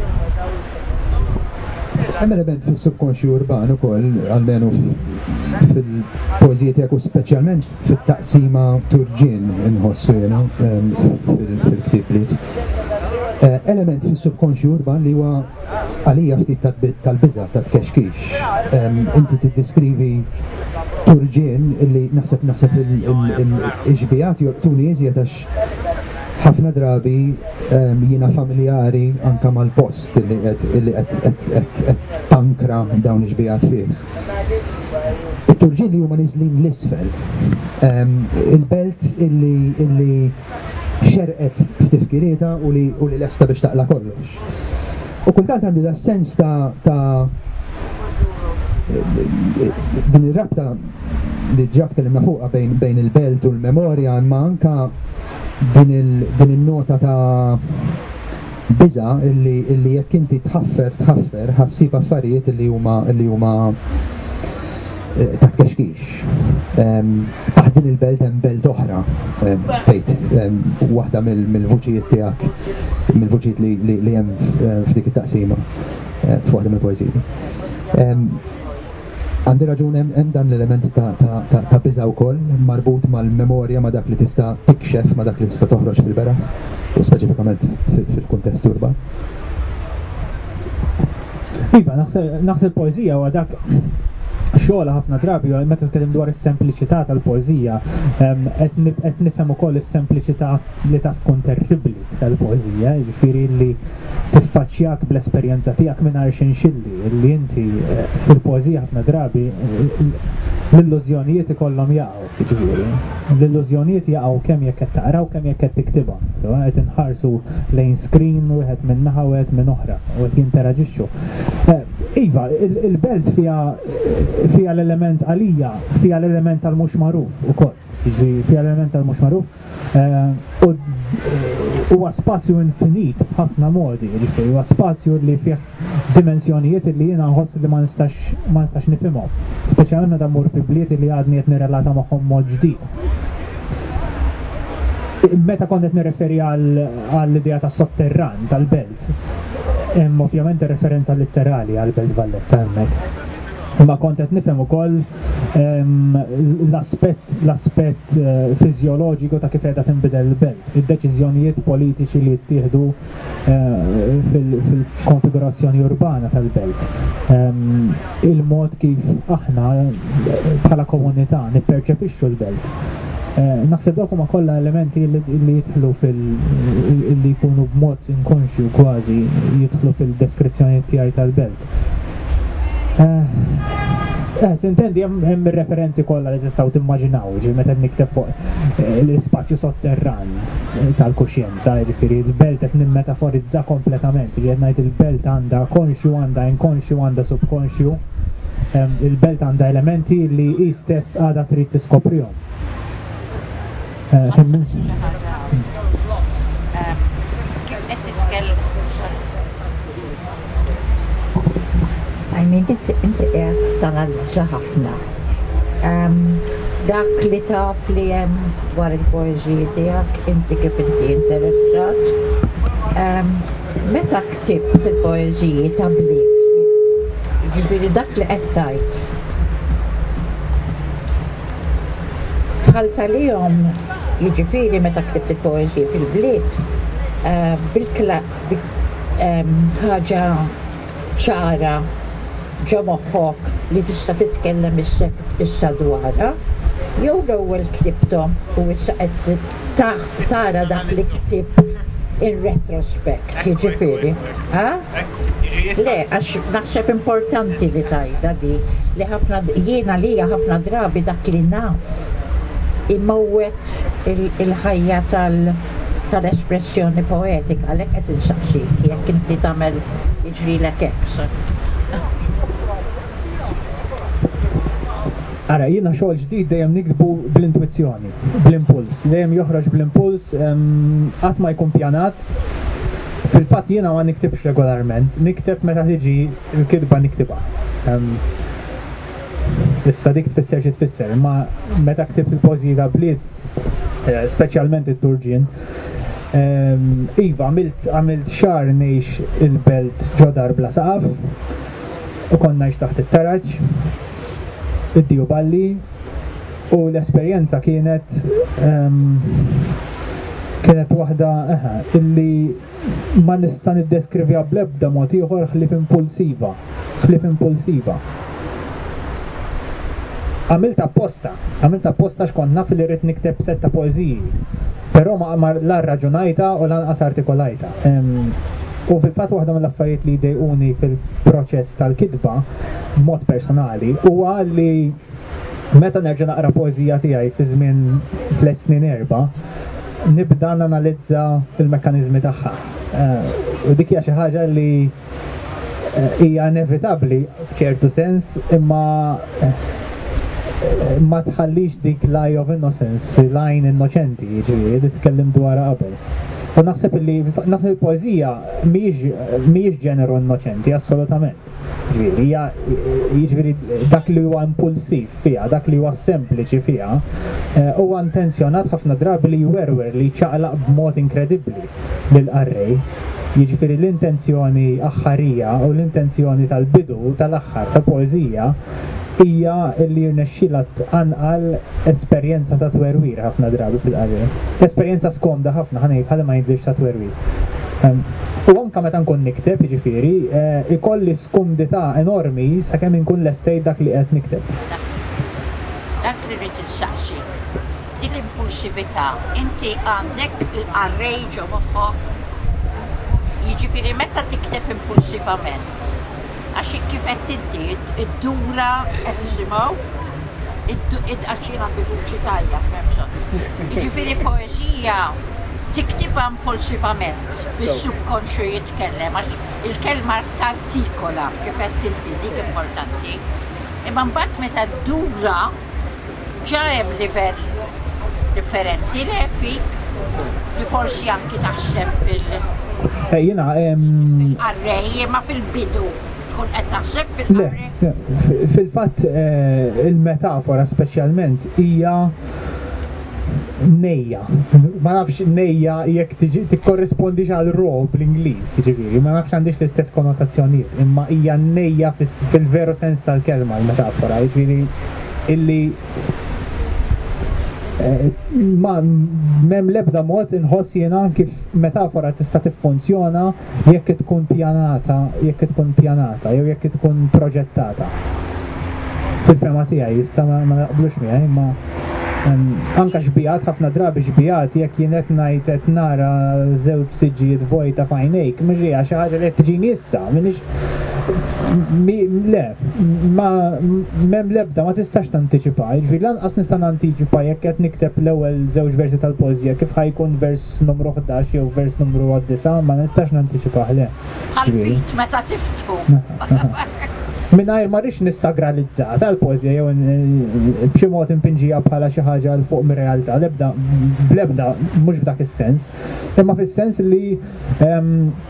Hemm element fis-subkonxju urban ukoll, almenu fil-poeżiji tiegħek u speċjalment fit-taqsima turġien inħossu jiena fil-ktieb li element fis-subkonxju urban li huwa għalija ftit tal-biża' tat-tkexkix. Inti tiddiskrivi turġien li naħseb naħseb il-xbijat jorbtuni iżjed għax ħafna drabi jiena familjari anka mal-post li qed tankra dawn iġbijat fih. Il-turġini huma nizlin l-isfel. Il-belt illi xerqet f'tifkirieta u li lesta biex taqla kollox. U kultant għandi da sens ta' ta' din ir-rabta li ġat tkellimna fuqha bejn bejn il-belt u l-memorja imma anka din il-nota ta' biża illi illi jekk inti tħaffer tħaffer ħassib affarijiet illi huma illi huma eh, taħt kexkix. Ehm, taħt din il-belt hemm belt oħra ehm, fejt ehm, waħda mill-vuċijiet tiegħek, mill-vuċijiet li hemm eh, f'dik it-taqsima eh, f'waħda mill-poeżiji. Għandi raġun hemm dan l-element ta' biża wkoll marbut mal-memorja ma' dak li tista' tikxef ma' dak li tista' toħroġ fil-beraħ u speċifikament fil-kuntest urban. Iva, naħseb poezija huwa dak xogħla ħafna drabi meta tkellem dwar is-sempliċità tal-poeżija qed nifhem ukoll is-sempliċità li taf tkun terribbli tal-poeżija, jiġifieri li tiffaċċjak bl-esperjenza tiegħek mingħajr xinxilli li inti eh, fil-poeżija ħafna drabi l-illużjonijiet ikollhom jaqgħu. Jiġifieri, l-illużjonijiet jaqgħu kemm jekk qed taqra u kemm jekk qed tiktibha, sewa qed inħarsu lejn screen wieħed minn naħa u wieħed minn oħra u qed jinteraġixxu. Iva, il-belt fiha fiha l-element għalija fiha l-element tal-mhux magħruf ukoll, jiġifieri fiha l-element tal-mhux magħruf. eh, huwa spazju infinit b'ħafna modi, ġifieri huwa spazju li fih dimensjonijiet li jiena nħoss li ma nistax ma nistax nifhimhom. Speċjalment meta mmur fi bliet li għadni qed nirrelata magħhom mod ġdid. Meta kont qed nirreferi għall-idea tas-sotterran tal-belt, Vallett. Hemm ovvjament ir-referenza litterali għall-Belt Valletta hemmhekk. Imma kont qed nifhem ukoll l-aspett l-aspett fiżjoloġiku ta' kif qiegħda tinbidel il-belt, id-deċiżjonijiet politiċi li jittieħdu fil-konfigurazzjoni urbana tal-belt. il-mod kif aħna bħala komunità nipperċepixxu l-belt. Eh, naħseb dawk huma kollha elementi li jidħlu fil li jkunu b'mod inkonxju kważi jidħlu fil-deskrizzjoni tiegħi tal-belt. Eh, eh sintendi hemm referenzi kollha li tistgħu timmaġinaw, ġi meta nikteb fuq eh, l-ispazju sotterran tal-kuxjenza. Sa, jiġifieri, il-belt qed nimmetaforizza kompletament, jiġifieri qed ngħid il-belt għandha konxju, għandha inkonxju, għandha subkonxju. Il-belt għandha elementi li hi stess għadha trid tiskoprihom. Kemm I mean, inti qed tanalizza ħafna. Ehm, dak li taf li hemm dwar il-poeżiji tiegħek, inti kif inti interessat. Ehm, meta ktibt il-poeżiji ta' bliet, ġifieri dak li qed tajt. Tħalta lihom jiġifieri meta ktibt il-poeżiji fil-bliet, eh, ħaġa ċara ġo moħħok li tista' titkellem issa dwarha, jew l-ewwel ktibthom u issa qed tara dak li ktibt in retrospect, jiġifieri, ha? Le, għax naħseb importanti li tgħidha di, li ħafna, jien għalija ħafna drabi dak li naf imowwet il-ħajja tal-. tal-espressjoni poetika għalhekk qed insaqsik jekk inti tagħmel jiġrilek hekk. Ara, jiena xogħol ġdid dejjem nikdbu bl-intwizzjoni, bl-impuls, dejjem joħroġ bl-impuls, qatt ma jkun pjanat. Fil-fatt jiena ma niktibx regolarment, nikteb meta tiġi l-kitba niktibha. Issa dik tfisser xi tfisser, imma meta ktibt il-pożji ta' bliet, eh, speċjalment it-Turġien, ehm, iva għamilt għamilt xahar ngħix il-belt ġodar bla saqaf u kont ngħix taħt it-taraġ, id-diju balli u l-esperjenza kienet ehm, kienet waħda eħe, illi ma nista' niddeskrivja bl-ebda mod ieħor ħlief impulsiva, ħlief impulsiva. Għamilt apposta, għamilt apposta x'kont naf li rrid nikteb set ta' poeżiji, però ma qamar la rraġunajta u lanqas artikolajta. U fil-fatt waħda mill-affarijiet li jdejquni fil-proċess tal-kitba, b'mod personali, huwa li Meta nerġa' naqra poeżija tiegħi fi żmien tliet snin erba', nibda nanalizza l-mekkaniżmi tagħha. U dik hija xi ħaġa li hija inevitabbli f'ċertu sens, imma ma tħallix dik l-eye of innocence, l-għajn innoċenti, jiġifieri, li tkellimt dwarha qabel. U naħseb li naħseb il-poeżija mhijiex ġeneru innoċenti assolutament. Ġifieri, hija jiġifieri dak li huwa impulsiv fiha, dak li huwa sempliċi fiha, eh, huwa intenzjonat ħafna drabi li jwerwer li jċaqlaq b'mod inkredibbli lil qarrej. Jiġifieri l-intenzjoni aħħarija u l-intenzjoni tal-bidu u tal-aħħar tal-poeżija hija li jirnexxilha tqanqal esperjenza ta' twerwir ħafna drabi fil-qari. Esperjenza skomda ħafna ħa ngħid ħalli ma jidhirx ta' twerwir. Ehm, u anke meta nkun nikteb, jiġifieri, eh, ikolli skumdità enormi sakemm inkun lestejt dak li qed nikteb. Dak li rrid insaqsi, dik l-impulsività, inti għandek il-qarrej ġo moħħok, jiġifieri meta tikteb impulsivament, Għax kif qed inti, iddura qed nisimgħu, għax jien għandi vuċi tajja, f'hemmxon. Jiġifieri poeżija tiktibha impulsivament, bis-subkonxju jitkellem, għax il-kelma tartikola kif qed inti dik importanti. Imma mbagħad meta ddura, Ġa hemm livell differenti le fik li forsi anki taħseb fil- Eh, jena... Arrej, ma fil-bidu tkun qed taħseb fil-arrej. Fil-fatt eh, il-metafora speċjalment hija nejja. Ma nafx nejja jekk tikkorrispondix għal ro bl-Ingliż, ġifieri, ma nafx għandix l-istess konnotazzjonijiet, imma hija nejja fil-veru sens tal-kelma l-metafora, ġifieri illi eh, ma mem lebda mod inħoss jiena kif metafora tista' tiffunzjona jekk tkun pjanata, jekk tkun pjanata jew jekk tkun proġettata. Fil-fema tiegħi jista' ma naqblux miegħi imma anka xbijat ħafna drabi xbijat jekk jien qed ngħid qed nara żewġ siġġijiet vojta f'għajnejk mhux hija xi ħaġa li qed tiġini issa m'iniex le ma m'hemm l-ebda ma tistax tantiċipa jiġifieri lanqas nista' nantiċipa jekk qed nikteb l-ewwel żewġ versi tal-poeżija kif ħajkun vers vers numru ħdax jew vers numru disa' ma nistax nantiċipah le. Ħalfit meta tiftħu. Mingħajr ma rix nissagralizza tal-pożja jew b'xi mod impinġija bħala xi ħaġa l fuq mir-realtà l-ebda bl-ebda mhux b'dak is-sens, imma fis-sens li ehm,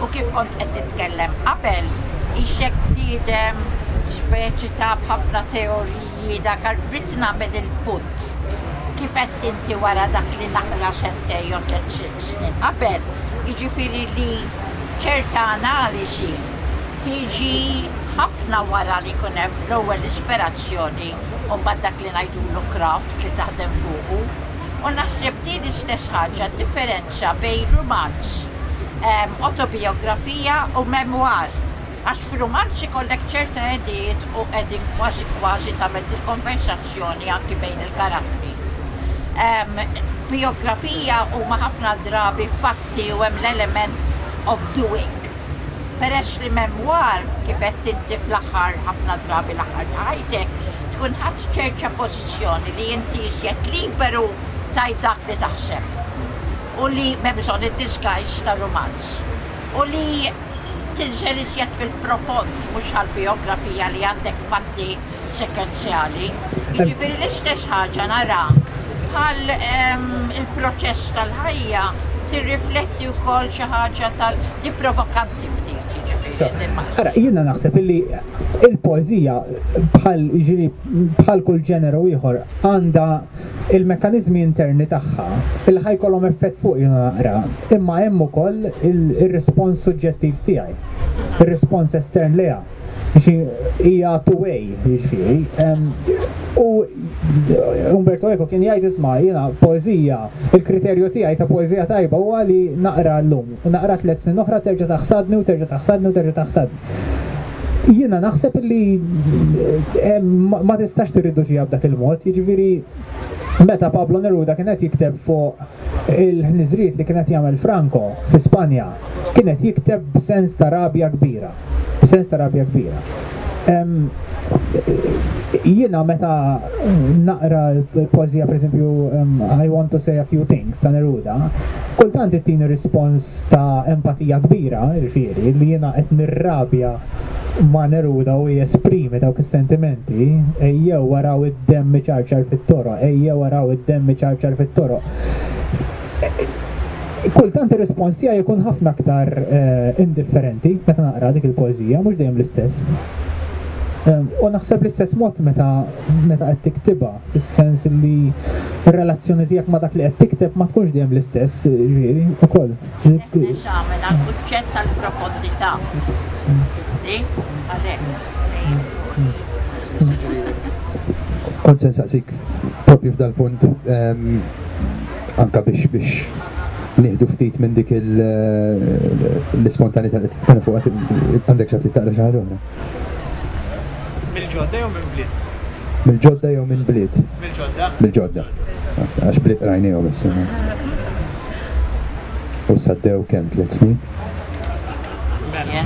u kif kont qed titkellem qabel, ixek bniedem speċi ta' b'ħafna teoriji dak rrid nagħmel il-punt. Kif qed inti wara dak li naqra xentej jew tliet snin qabel, jiġifieri li ċerta analiżi tiġi ħafna wara li jkun hemm l-ewwel ispirazzjoni u mbagħad dak li ngħidulu craft li taħdem fuqu. U naħseb din l-istess ħaġa ddifferenzja bejn rumanz, autobijografija u memoir. Għax f'rumanz ikollek ċerta hedijiet u qegħdin kważi kważi tagħmel dil-konversazzjoni anki bejn il-karattri. Bijografija huma ħafna drabi fatti u hemm l-element of doing. Peress li memoir, kif għedt inti fl-aħħar ħafna drabi l-aħħar ta' ħajtek, tkun ħadt ċerċa pożittiva. Kostituzzjoni li inti iżjed liberu tgħid dak li taħseb u li m'hemm bżonn id-disguise ta' rumanz u li tinżel iżjed fil-profond mhux għal bijografija li għandek fatti sekwenzjali. Jiġifieri l-istess ħaġa nara bħal ehm, il-proċess tal-ħajja tirrifletti wkoll xi ħaġa tal provokanti ftit. Jiġifieri Ara, jiena naħseb illi il-poezija bħal ġiri bħal kull ġeneru ieħor, għandha l-mekkaniżmi interni tagħha li ħa jkollhom effett fuqi jiena naqra, imma hemm ukoll ir-rispons suġġettiv tiegħi, ir-rispons estern lejha. Hija two-way, jiġifieri. U Umberto Eco kien jgħid isma' jiena poeżija, il-kriterju tiegħi ta' poeżija tajba huwa li naqra llum, naqra tliet snin oħra terġa' taħsadni u terġa' taħsadni u terġa' taħsadni. Jiena naħseb li eh, ma tistax tirriduċiha b'dak il-mod, jiġifieri meta Pablo Neruda kien qed jikteb fuq il-ħniżriet li kien qed jagħmel Franco fi Spanja, kien qed jikteb b'sens ta' rabja kbira, b'sens ta' rabja kbira. Jiena meta naqra l-pożija pereżempju I want to say a few things ta' Neruda, kultant ittini rispons ta' empatija kbira, jiġifieri, li jiena qed nirrabja ma' Neruda u jesprimi dawk is-sentimenti, ejjew araw id-demm iċarċar fit-toroq, ejjew araw id-demm iċarċar fit-toroq, kultant ir-rispons tiegħi jkun ħafna aktar indifferenti meta naqra dik il-poeżija, mhux dejjem l-istess. U naħseb l-istess mod meta qed tiktibha. fis-sens li r-relazzjoni tiegħek ma' dak li qed tikteb ma tkunx dejjem l-istess, ġifieri, ukoll. Eżamina l-kuċċett tal-profondità. Kont se nsaqsik propju f'dal-punt ehm, anka biex biex nieħdu ftit minn dik eh, l-ispontanità li tkun fuq għandek xi taqra xi ħaġa oħra. Mill-ġodda jew minn bliet? Mill-ġodda jew minn bliet? Mill-ġodda. Mill-ġodda. Għax bliet rajnijom issa. U saddew kemm tliet snin? Mela.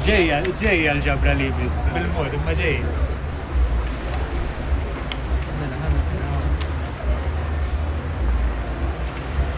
Ġejja, ġejja l-ġabra li biss, bil-mod, imma ġejja.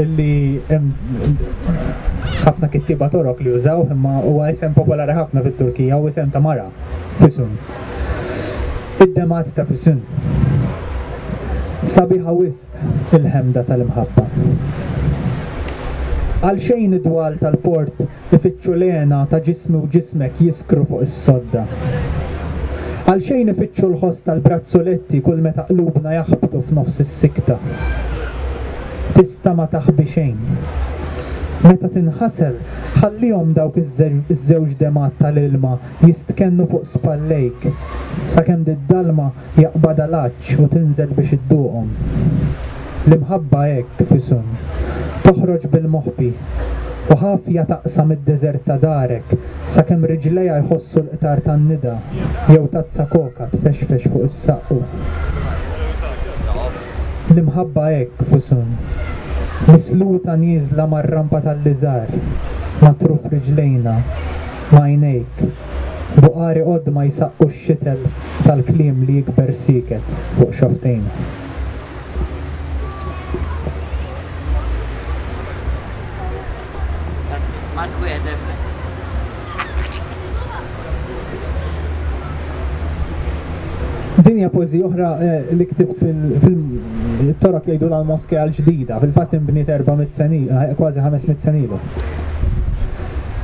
illi hemm ħafna kittieba Torok li jużaw imma huwa isem popolari ħafna fit-Turkija u isem ta' mara Fisun. Id-demat ta' Fisun. Sabiħa wisq il-ħemda tal-imħabba. Għal xejn id-dwal tal-port Ifittxu l-hena ta' ġismi u ġismek jiskru fuq is-sodda. Għalxejn ifittxu l-ħoss tal-brazzuletti kull meta qlubna jaħbtu f'nofs is-sikta. Tista' ma taħbi xejn. Meta tinħasel, ħallihom dawk iż-żewġ demgħat tal-ilma jistkennu fuq spallejk sakemm d-dalma Jaqbadha l-għatx u tinżel biex idduqhom. L-imħabba hekk f'isem, toħroġ bil-moħbi, u ħafja taqsam id-deżert ta' darek sakemm riġlejha jħossu l-qtar tan-nida jew tazza koka tfexfex fuq is-saqqu. L-imħabba hekk f'isem, misluta nieżla mar-rampa tal-liżar, ma' truf riġlejna, ma' għajnejk, Buqari għodd ma jsaqqu x-xitel tal-kliem li jikber sieket fuq xofftejn. Din hija poeżija oħra eh, li ktibt fil-torok jgħidu l-moske għal-ġdida, fil-fatt inbniet 400 senilu, eh, kważi 500 senilu.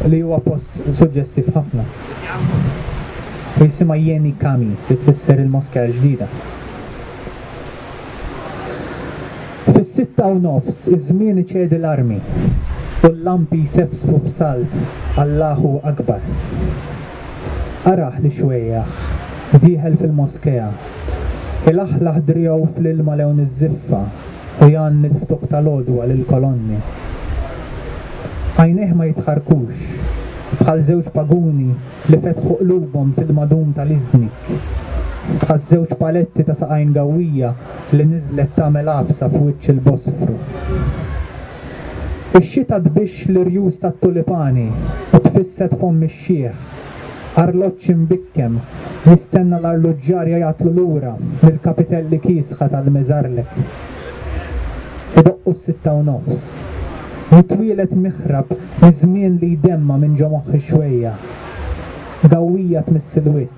Li huwa post Suġġestiv ħafna. Hu jisimha Yeni Cami li tfisser il-Moskea l-Ġdida. Fis-sitta u nofs iż-żmien iċedi l-armi u l-lampi jsefsfu f'salt Allahu Akbar. Qaraħ li xwejjaħ dieħel fil-Moskea, ilaħħlaħ driegħu fl-ilma lewn iż-żiffa u jgħanni l-ftuħ tal-għodwa lill-kolonni. Għajnejh ma jitħarrkux, bħal żewġ paguni li fetħu qlubhom fil-madum tal-iżnik, bħaż-żewġ paletti ta' saqajn gawwija li niżlet tagħmel għafsa f'wiċċ il-Bosfru. Ix-xita tbixx l-irjus tat-tulipani u tfisset fomm Xiħ, arloġġ imbikkem, jistenna l-arluġġar jgħajatlu lura mill-kapitelli kiesħa tal-Meżarlek. Idoqqu s-sitta u nofs. Jitwieled miħrab miż-żmien li jdemma minn ġo moħħi xwejjaħ. Gawwija tmiss il-wiċċ.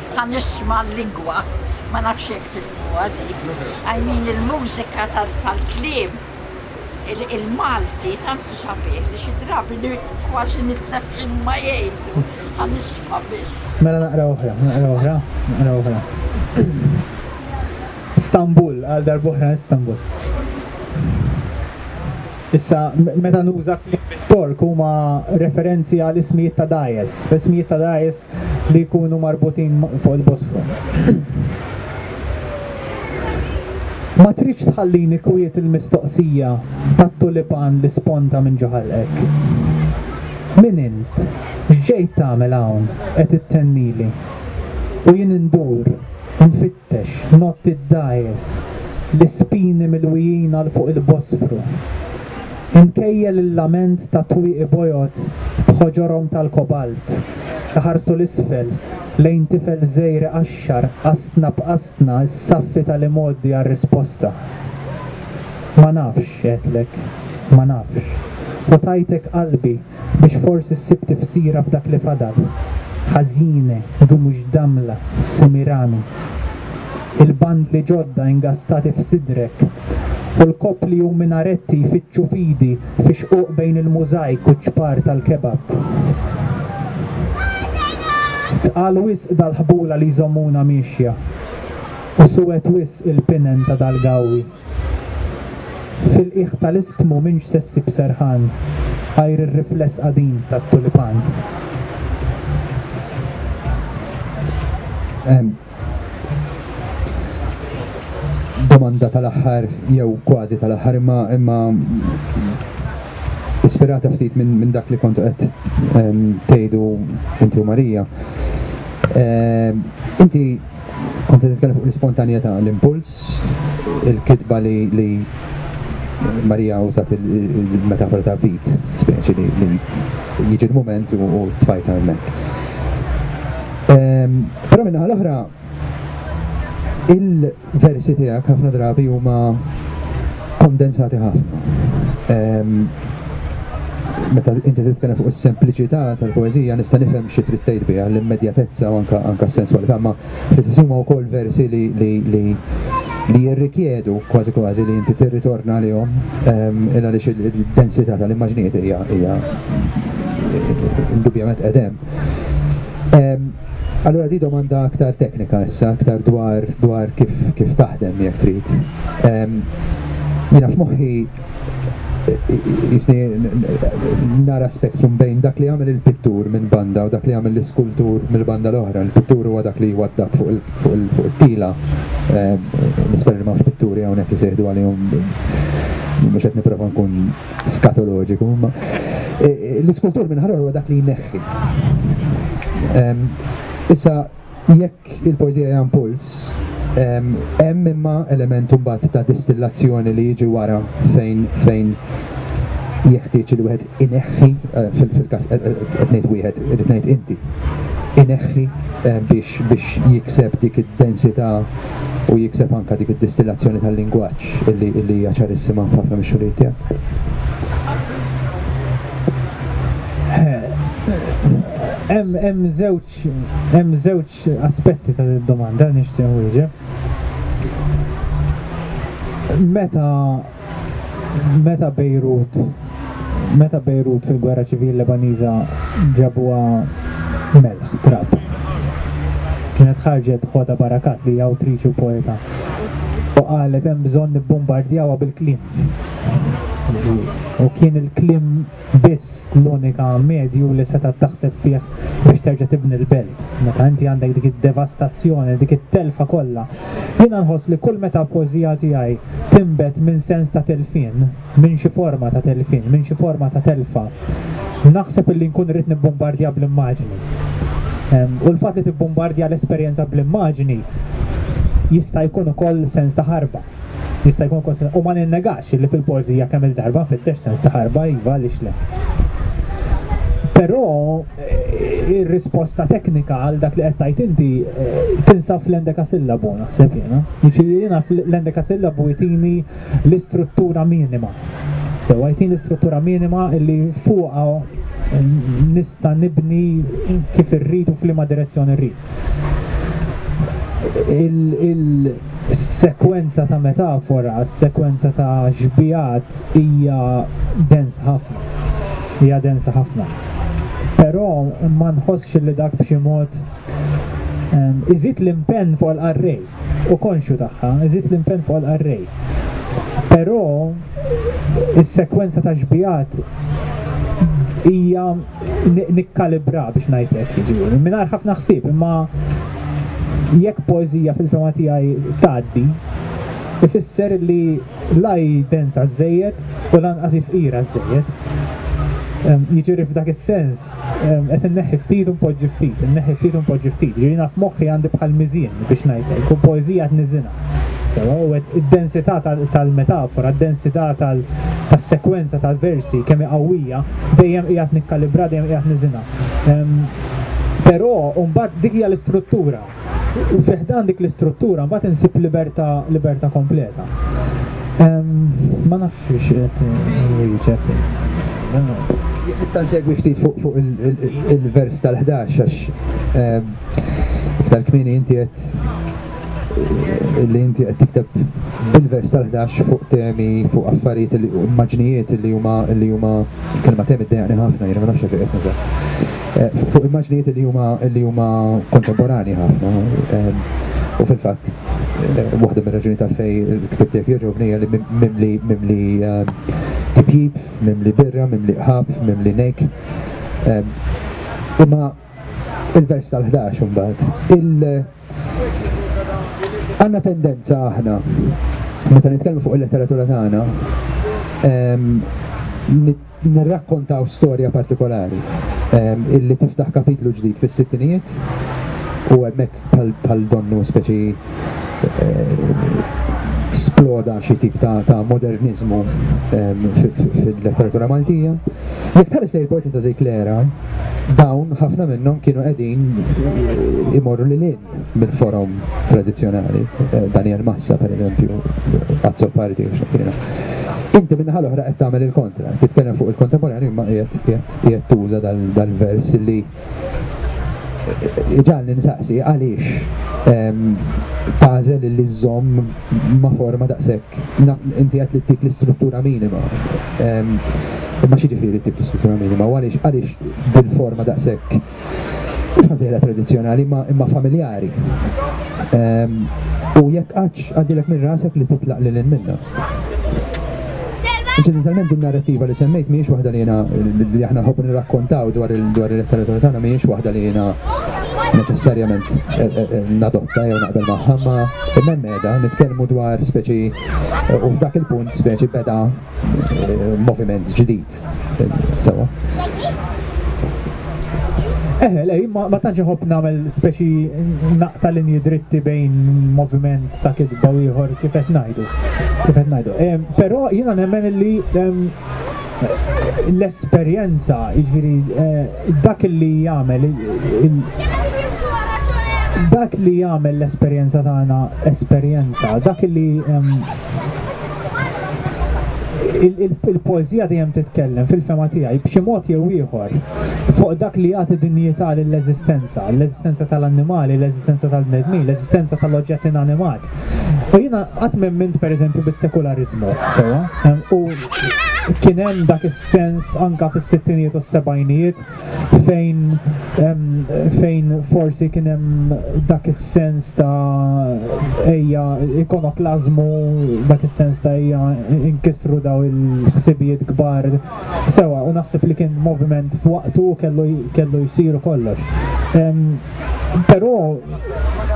Ħa nisma' l-lingwa, ma nafx jekk tifhmuha di. I mean il-mużika tal-kliem, il-Malti tant hu sabiħ li xi drabi kważi nitlef x'inhuma jgħidu. Ħa nisma' biss. Mela naqra oħra, naqra oħra, naqra oħra. Istanbul, għal darb'oħra Istanbul. Issa, meta nuża kliem Tork huma referenzi għal ismijiet ta' dajes. Ismijiet ta' dajes li jkunu marbutin fuq il-Bosfru. Ma tridx tħallini kwiet il-mistoqsija tat-tulipan li sponta minn ġo ħalqek. Min int? X'ġejt tagħmel hawn qed ittennili? U jien indur, nfittex. Tex, notti d-dgħajjes, l-ispini milwijin għal fuq il-Bosfru. Imkejjel il-lament ta' twieqi bojod b'ħoġorhom tal-kobalt, iħarsu 'l isfel lejn tifel żgħir iqaxxar qastna b'qastna s-saffi tal-imgħoddi għar-risposta. Ma nafx, għedtlek, ma nafx. U tajtek qalbi. biex forsi ssib tifsira f'dak li fadal. Ħażine, Gumush Damla, Semiramis. Il-bandli ġodda ingastati f'sidrek u l-koppli u minaretti jfittxu fidi fi xquq bejn il-mużajk u ċ-ċpar tal-kebab. Tqal wisq dal-ħbula li jżommuna miexja u suwed wisq il-pinen ta' dal-gawwi. Fil-qiegħ tal-istmu m'intx se ssib serħan għajr ir-rifless qadim tat-tulipan. Domanda tal-aħħar jew kważi tal-aħħar imma imma ispirata ftit minn min dak li kontu qed ehm, tgħidu inti u Marija. Ehm, inti kontu titkellem fuq l-ispontanjetà, l-impuls, il-kitba li, li Marija użat il-metafora ta' vit, speċi li, li jiġi l-moment u, u tfajta hemmhekk. Ehm, però minnaħa l-oħra il-versi tiegħek ħafna drabi huma kondensati ħafna. Ehm, meta inti titkellem fuq is-sempliċità tal-poeżija nista' nifhem xi trid tgħid biha l-immedjatezza u anke anke s-senswalità ma Fl-istess huma wkoll versi li li li jirrikjedu kważi kważi li inti tirritorna lihom ehm, illa li id-densità tal-immaġnijiet hija hija indubjament qedem. Ehm, allora di domanda aktar teknika issa, aktar dwar dwar kif kif taħdem jekk trid. Ehm, Jina f'moħħi jisni nara spektrum bejn dak li għamil il-pittur minn banda u dak li għamil l-iskultur mill banda l-oħra. Il-pittur huwa dak li jwaddab fuq il-tila. Eh, Nisper li mafx pitturi għonek li seħdu għalihom mux għet niprofa nkun skatoloġiku. Eh, eh, l-iskultur minn ħarra huwa dak li jneħħi. Issa, jekk il-poeżija hija impuls, hemm imma element imbagħad ta' distillazzjoni li jiġi wara fejn fejn jeħtieġ li wieħed ineħħi eh, fil-każ eh, eh, qed ngħid wieħed irid ngħid inti ineħħi biex biex jikseb dik id-densità u jikseb anka dik id-distillazzjoni tal-lingwaġġ illi illi hija ċarissima f'ħafna mix-xogħlijiet tiegħek. Hemm hemm żewġ Hemm żewġ aspetti ta' d-domanda li nixtieq nwieġeb. Meta meta Bejrut meta Bejrut fil-Gwerra Ċivili Lebaniża ġabuha melħ, trab. Kienet ħarġet Hoda Barakat li hija awtriċi u poeta u qalet hemm bżonn nibbombardjawha bil-kliem. U kien il-kliem biss l-unika medju li setgħet taħseb fih biex terġa' tibni l-belt. Meta inti għandek dik id-devastazzjoni, dik it-telfa kollha. Jiena nħoss li kull meta poeżija tiegħi tinbet minn sens ta' tilfien, minn xi forma ta' tilfien, minn xi forma ta' telfa, naħseb illi nkun irrid nibbumbardja bl-immaġni. U l-fatt li tibbumbardja l-esperjenza bl-immaġni jista' jkun ukoll sens ta' ħarba. jista' jkun konsidrat u ma ninnegax li fil-poeżija kemm il-darba nfittex sens ta' ħarba iva għaliex le. Però eh, ir-risposta teknika għal dak li qed tgħid inti eh, tinsab fl-endeka sillabu naħseb jiena. Jiġifieri jiena fl-endeka sillabu jtini l-istruttura minima. Sewa jtini l-istruttura minima li fuqha eh, nista' nibni kif irrid u f'liema direzzjoni rrid. il-sekwenza ta' metafora, s-sekwenza ta' xbijat hija dens ħafna. Hija dens ħafna. Però ma nħossx li dak b'xi mod ehm, iżid l-impenn fuq l-qarrej u konxu tagħha, iżid l-impenn fuq l-qarrej. Però is-sekwenza ta' xbijat hija nikkalibra biex ngħid hekk jiġifieri. Mingħajr ħafna ħsieb, imma jekk poeżija fil-fema tiegħi tgħaddi, ifisser li la hi densa żejjed u lanqas hi fqira żejjed. Ehm, jiġifieri f'dak is-sens ehm, qed inneħħi ftit u npoġġi ftit, inneħħi ftit u npoġġi ftit. Jiġifieri naf moħħi għandi bħal miżien biex ngħid hekk, u poeżija tniżinha. Sewa, u hekk id-densità tal-metafora, d-densità tas-sekwenza tal-versi kemm hi qawwija, dejjem qiegħed nikkalibra, dejjem qiegħed niżinha. Ehm, però mbagħad dik hija l-istruttura. U fi ħdan dik l-istruttura mbagħad insib libertà libertà kompleta. Ehm, ma nafx qed wieġeb. Nista' nsegwi ftit fuq il-vers tal-11 għax ehm, iktar kmieni inti qed li inti qed tikteb bil-vers tal-11 fuq temi, fuq affarijiet li immaġnijiet li huma li huma kelma temi ddejjaqni ħafna jiena ma nafx fejn qed nuża. Eh, fuq immaġnijiet li huma li huma kontemporani ħafna. Eh, u fil-fatt eh, waħda mir-raġuni tal-fej il-ktib tiegħek jogħġobni li mimli mimli tipjib, mimli birra, mimli qħab, mimli nejk. Imma il-vers tal-11 imbagħad il- Għandna tendenza aħna meta nitkellmu fuq il-letteratura tagħna nirrakkontaw storja partikolari illi tiftaħ kapitlu ġdid fis-sittinijiet u hemmhekk bħal donnu speċi sploda xi tip ta', ta moderniżmu fil-letteratura Maltija. Jekk tħares lejn il-poeti ta' dik l-era, dawn ħafna minnhom kienu qegħdin imorru lil hinn mill-forom tradizzjonali. Eh, Daniel Massa, per eżempju, Pazzo Parti, xakkina. Inti minna ħal oħra qed tagħmel il-kontra, titkellem fuq il-kontemporanju imma qiegħed tuża dal-vers li ġan ninsaqsi għaliex tazel li żomm ma forma daqshekk Naf inti qed li ttik l-istruttura minima. Imma xi ġifieri ttik l-istruttura minima u għaliex għaliex dil-forma daqshekk fażela tradizzjonali imma familjari. U jekk qattx għaddilek minn rasek li titlaq lil minna. Inċidentalment din narrativa li semmejt mhijiex waħda li jiena li aħna nħobbu nirrakkontaw dwar il-letteratura tagħna mhijiex waħda li jiena neċessarjament nadotta jew naqbel magħha ma Beda nitkellmu dwar speċi u f'dak il-punt speċi beda eh, moviment ġdid. Sewa. Eħe, eh, lej, ma tantx iħobb nagħmel speċi naqta linji dritti bejn moviment ta' kidba u ieħor kif qed ngħidu. Kif qed ngħidu. Però jiena nemmen li l-esperjenza, ġviri, eh, dak li jagħmel dak li jagħmel l-esperjenza tagħna esperjenza, dak li il-poezija dejjem titkellem fil-fema tiegħi b'xi mod jew ieħor fuq dak li jagħti dinjità lill-eżistenza, l-eżistenza tal-annimali, l-eżistenza tal-bnedmin, l-eżistenza tal-oġġett inanimat. U jina qatt m'emmint pereżempju bis-sekulariżmu, sewwa, u kien hemm dak is-sens anka fis-sittinijiet u s-sebgħinijiet fejn fejn forsi kien hemm dak is-sens ta' ejja ikonoklażmu, dak is-sens ta' ejja inkisru daw il-ħsibijiet kbar Sewa, u naħseb li kien moviment f'waqtu u kellu, kellu jsiru kollox. Però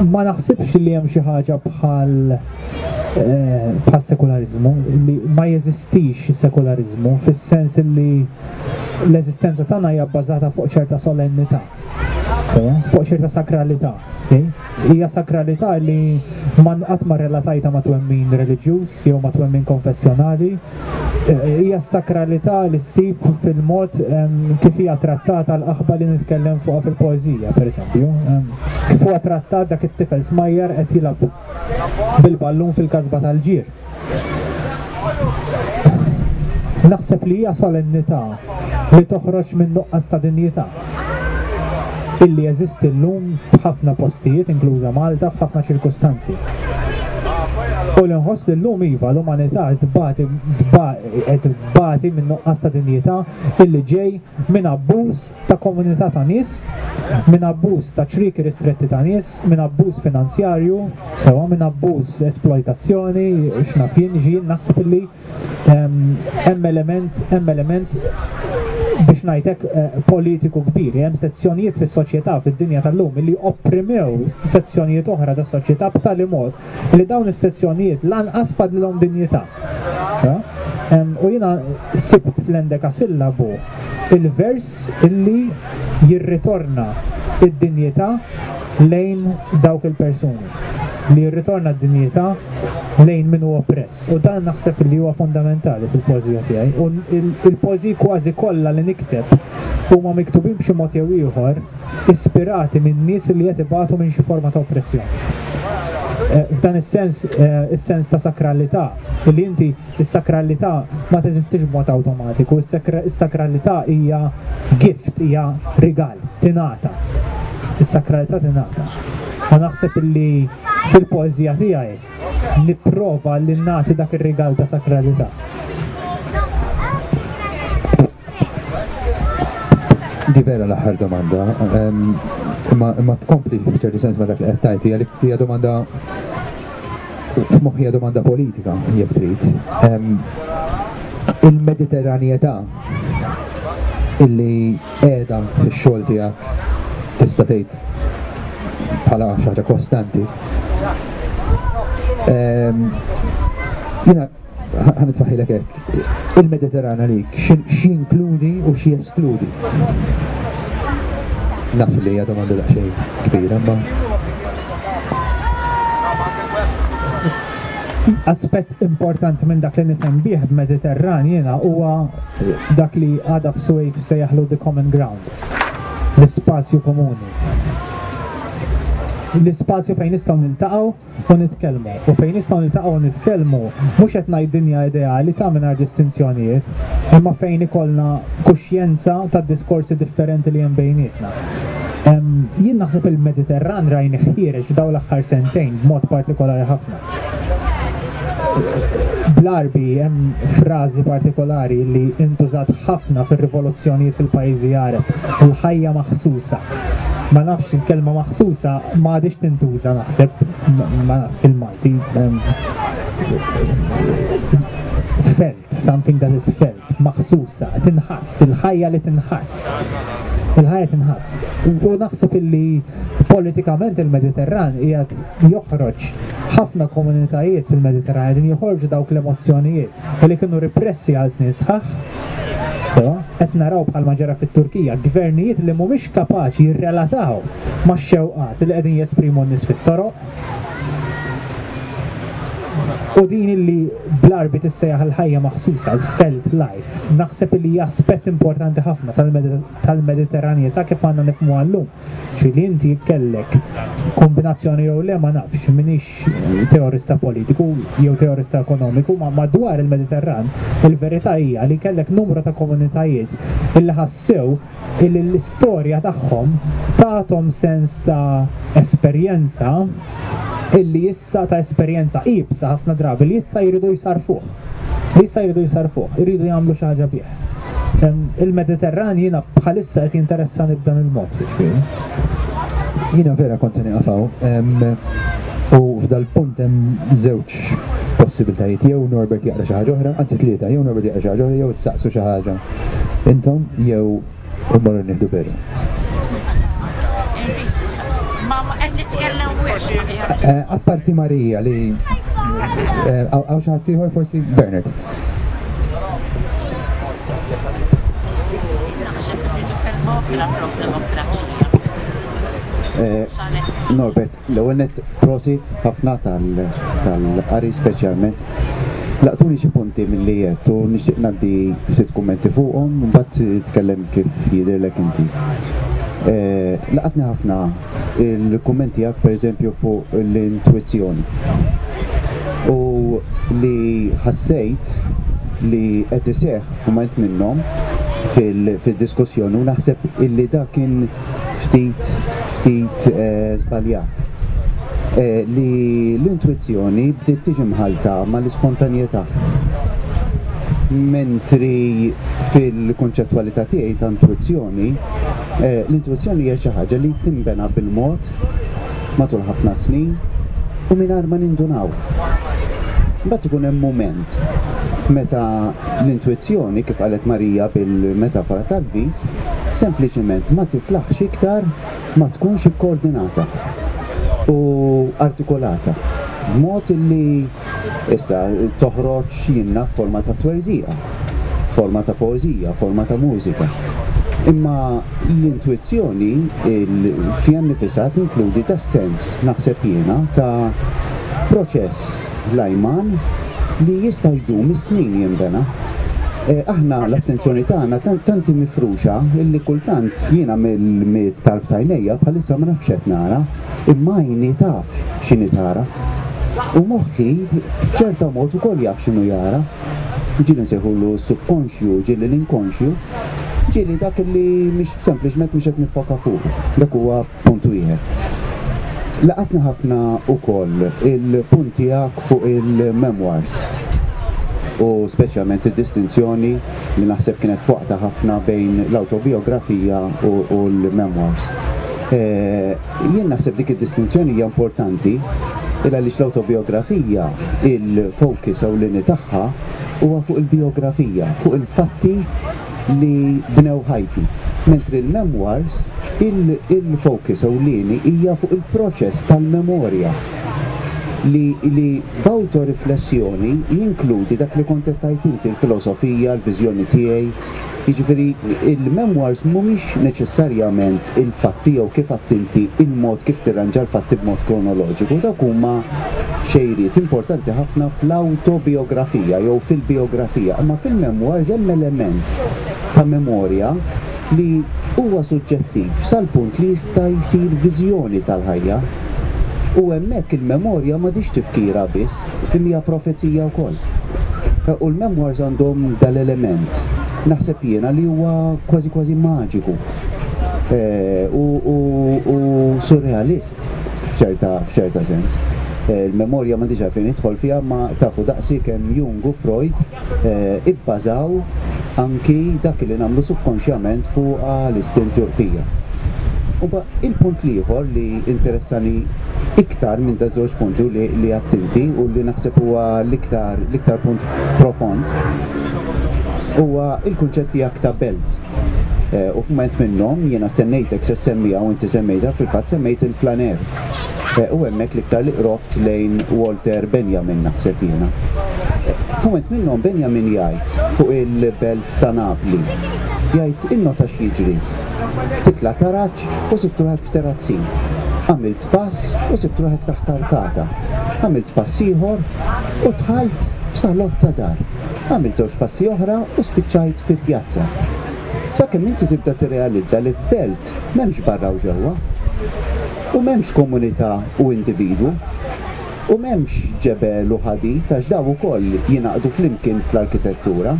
ma naħsibx li hemm xi ħaġa bħal eh, bħal sekularizmu li ma jeżistix sekularizmu fis-sens li l-eżistenza tagħna hija bbażata fuq ċerta solennità Sewa, fuq xirta sakralità. Hija sakralità li man qatt ma relatajta ma' twemmin reliġjuż jew ma' twemmin konfessjonali. E, e, hija sakralità li ssib fil-mod kif hija trattata l-aħba li nitkellem fuqha fil-poeżija, pereżempju. Kif huwa trattat dak it-tifel smajjar qed jilgħab bil-ballun fil-kasba tal-ġir. Naħseb li hija solennità li toħroġ minn nuqqas ta' dinjità illi jeżisti llum f'ħafna postijiet, inkluża Malta, f'ħafna ċirkustanzi. U li nħoss li llum iva l-umanità tbati tbati minn nuqqas ta' dinjità illi ġej minn abbuż ta' komunità ta' nies, minn abbuż ta' ċrieki ristretti ta' nies, minn abbuż finanzjarju, sewwa minn abbuż esplojtazzjoni, x'naf jien, jien naħseb illi ehm, hemm element, hemm element biex ngħidlek eh, politiku kbir, hemm sezzjonijiet fis-soċjetà fid-dinja tal-lum li opprimew sezzjonijiet oħra tas-soċjetà b'tali mod li dawn is-sezzjonijiet lanqas fadlilhom dinjità. U jiena sibt fl-endekasillabu l-vers li jirritorna d-dinjità lejn dawk il-persuni, li jirritorna d-dinjità lejn min hu oppress. U dan naħseb li huwa fundamentali fil-poeżija tiegħi. U l-poeżiji kważi kollha li nikteb huma miktubin b'xi mod jew ieħor, ispirati minn nies li qed ibatu minn xi forma ta' oppressjoni. Eh, f'dan is-sens, eh, is-sens ta' sakralità, li inti is-sakralità ma teżistix b'mod awtomatiku, is-sakralità hija gift, hija rigal, tingħata. Is-sakralità tingħata. Ma naħseb li fil-poeżija tiegħi nipprova li nagħti dak ir-rigal ta' sakralità. Di vera l-aħħar domanda, ma tkompli f'ċertu sens ma dak li qed tajt, hija li hija domanda f'moħħija domanda politika jekk trid. Il-Mediterranjetà illi qiegħda fix-xogħol tiegħek tista' tgħid bħala xaħġa kostanti. Jiena Ħa nitfaħilek hekk. Il-Mediterran għalik x'inkludi u x'jeskludi? Naf li hija domanda daqsxejn kbira, ma aspett importanti minn dak li nifhem bih b'Mediterran jiena huwa dak li għadha f'Suwejf se jaħlu the common ground, l-ispazju komuni. L-ispazju fejn nistgħu niltaqgħu u nitkellmu. U fejn nistgħu niltaqgħu u nitkellmu, mhux qed ngħid dinja ideali ta' mingħajr distinzjonijiet, imma fejn ikollna kuxjenza tad-diskorsi differenti li hemm bejnietna. Jien naħseb il-Mediterran rajni ħiereġ f'daw l-aħħar sentejn b'mod partikolari ħafna. Bl-arbi hemm frażi partikolari li intużat ħafna fir-rivoluzzjonijiet fil-pajjiżi Għareb, il-ħajja maħsusa. ma nafx il-kelma maħsusa ma għadix tintuża naħseb ma fil-Malti felt, something that is felt, maħsusa, tinħass, il-ħajja li tinħass. Il-ħajja tinħass. U naħseb illi politikament il-Mediterran qiegħed joħroġ ħafna komunitajiet fil-Mediterran qegħdin joħorġu dawk l-emozzjonijiet. u li kienu ripressi għal snin sħaħ, sewwa, qed naraw bħalma ġara fit-Turkija gvernijiet li mhumiex kapaċi jirrelataw max-xewqat li qegħdin jesprimu n-nies fit-toroq. U din illi bl-Għarbi tissejjaħ il-ħajja maħsusa, l-felt life, naħseb li hija aspett importanti ħafna tal-Mediterranjetà kif għandna nifhmu għallum. Ġifieri li inti kellek kombinazzjoni jew le ma nafx, minix teorista politiku jew teorista ekonomiku, ma madwar il-Mediterran, il-verità hija li kellek numru ta' komunitajiet illi ħassew illi l-istorja tagħhom tagħthom sens ta' esperjenza illi issa ta' esperjenza iebsa ħafna drabi li issa jridu jsarfuh. li issa jridu jsarrfuh, iridu jagħmlu xi ħaġa bih. Il-Mediterran jiena bħalissa qed jinteressani b'dan il-mod, jiġifieri. Jiena vera kont se niqafaw. U f'dal-punt hemm żewġ possibiltajiet jew Norbert jaqra xi ħaġa oħra, anzi tlieta, jew Norbert jaqra xi ħaġa oħra jew issaqsu xi ħaġa. Intom jew U marru nieħdu beru. Eh, apparti Marija li eh, għaw xaħtiħor forsi Bernard. Eh, Norbert. L-ewwel nett prosit ħafna tal-qari speċjalment laqtuni xi punti milli għedt u nixtieq ngħaddi ftit kummenti fuqhom imbagħad tkellem kif jidhirlek inti. Laqatni ħafna il-kumment tiegħek pereżempju fuq l-intwizzjoni u li ħassejt li qed iseħħ f'mument minnhom fid-diskussjoni u naħseb illi dak kien ftit ftit żbaljat, li l-intwizzjoni bdiet tiġi mħallta mal-ispontanjetà, mentri fil-kunċettwalità tiegħi ta' intwizzjoni, l-intwizzjoni hija xi ħaġa li tinbena bil-mod matul ħafna snin u mingħajr ma nindunaw. Imbagħad ikun hemm mument meta L-intwizzjoni, kif qalet Marija bil-metafora tal-vit, sempliċement ma tiflaħx iktar ma tkunx ikkoordinata u artikolata b'mod li, issa, toħroġ, jien naf, forma ta' twerżiqa, forma ta' poeżija, forma ta' mużika. Imma l-intwizzjoni fiha nnifisha tinkludi tas-sens, naħseb jiena, ta' proċess. Dlajman li jista' jdum is-snin jinbena. Aħna l-attenzjoni tagħna tanti mifruxa illi kultant jiena mit-tarf tajnejja bħalissa ma nafx qed nara, imma għajni taf x'inhi tara. U moħħi b'ċerta mod ukoll jaf x'inhu jara. Ġieli nsejħulu s-subkonxju, ġieli l-inkonxju, ġieli dak illi mhix sempliċement mhux qed niffoka fuqu. Dak huwa Punt wieħed. Laqatna ħafna wkoll il-punt tiegħek fuq il-memoirs u speċjalment id-distinzjoni li naħseb kienet fuqta ħafna bejn l-autobiografija u l-memoirs. Eh, jien naħseb dik id-distinzjoni hija importanti illa li l-autobiografija il-focus ewlieni tagħha huwa fuq il-biografija, fuq il-fatti li bnew ħajti. Mentri l-memoirs, il-focus ewlieni hija fuq il-proċess tal-memorja li b'awtoriflessjoni jinkludi dak li kont qed tgħid inti, il-filosofija, il-viżjoni tiegħi. Jiġifieri il-memoirs mhumiex neċessarjament il-fatti jew kif għadt inti il-mod kif tirranġa l-fatti b'mod kronoloġiku, dawk huma xejriet importanti ħafna fl-awtobijografija jew fil-bijografija, imma fil-memoirs hemm element ta' memorja li huwa suġġettiv sal-punt li jista' jsir viżjoni tal-ħajja. U hemmhekk il-memorja m'għadhiex tifkira biss, imma hija profezija wkoll. U l-memoirs għandhom dal-element, naħseb jiena, li huwa kważi kważi maġiku u surrealist. f'ċerta f'ċerta sens. Il-memorja m'għandix għalfejn nidħol fiha imma tafu daqsi kemm Jung u Freud ibbażaw anki dak li nagħmlu subkonxjament fuqha l-istinti u l-ħtija. U mba il-punt l-ieħor li interessani iktar minn daż-żewġ punti u li li għadt inti u li naħseb huwa l-iktar l-iktar punt profond huwa l-kunċett tiegħek ta' belt. Eh, u f'mument minnhom jiena stennejtek se semmiha u inti semmejta fil-fatt semmejt il-flaner. Eh, u hemmhekk l-iktar li qrobt lejn Walter Benjamin naħseb jiena. Eh, f'mument minnhom Benjamin jgħid fuq il-belt ta' Napli jgħid innota x'jiġri. Titla' taraġ u sibtruħek f'terazzin. Għamilt pass u sibtruħek taħt arkata. Għamilt pass ieħor u tħalt f'salott ta' dar. Għamilt żewġ passi oħra u spiċċajt fi pjazza. Sakemm inti tibda tirrealizza li f'belt m'hemmx barra u ġewwa. U m'hemmx komunità u individwu. U m'hemmx ġebel u ħadid għax dawn ukoll jingħaqdu flimkien fl-arkitettura.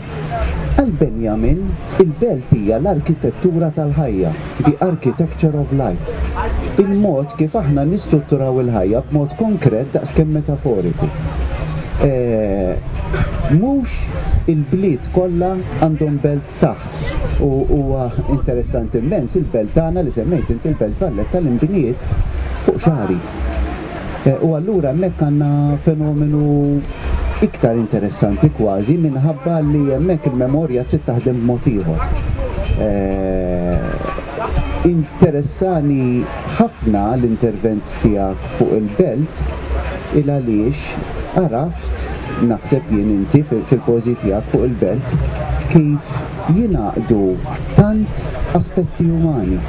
Għal Benjamin, il-belt hija l-arkitettura tal-ħajja. The Architecture of Life, Il-mod kif aħna nistrutturaw il-ħajja b'mod konkret daqs kemm metaforiku. Mhux il-bliet kollha għandhom belt taħt u huwa interessanti mmens il-belt tagħna li semmejt int il-Belt Valletta li nbniet fuq xagħri. Eh, u allura hemmhekk għandna fenomenu iktar interessanti kważi minħabba li hemmhekk il-memorja trid taħdem b'mod ieħor. Eh, interessani ħafna l-intervent tiegħek fuq il-belt il għaliex għaraft naħseb jien inti fil-pożi tiegħek fuq il-belt kif Jingħaqdu tant aspetti umani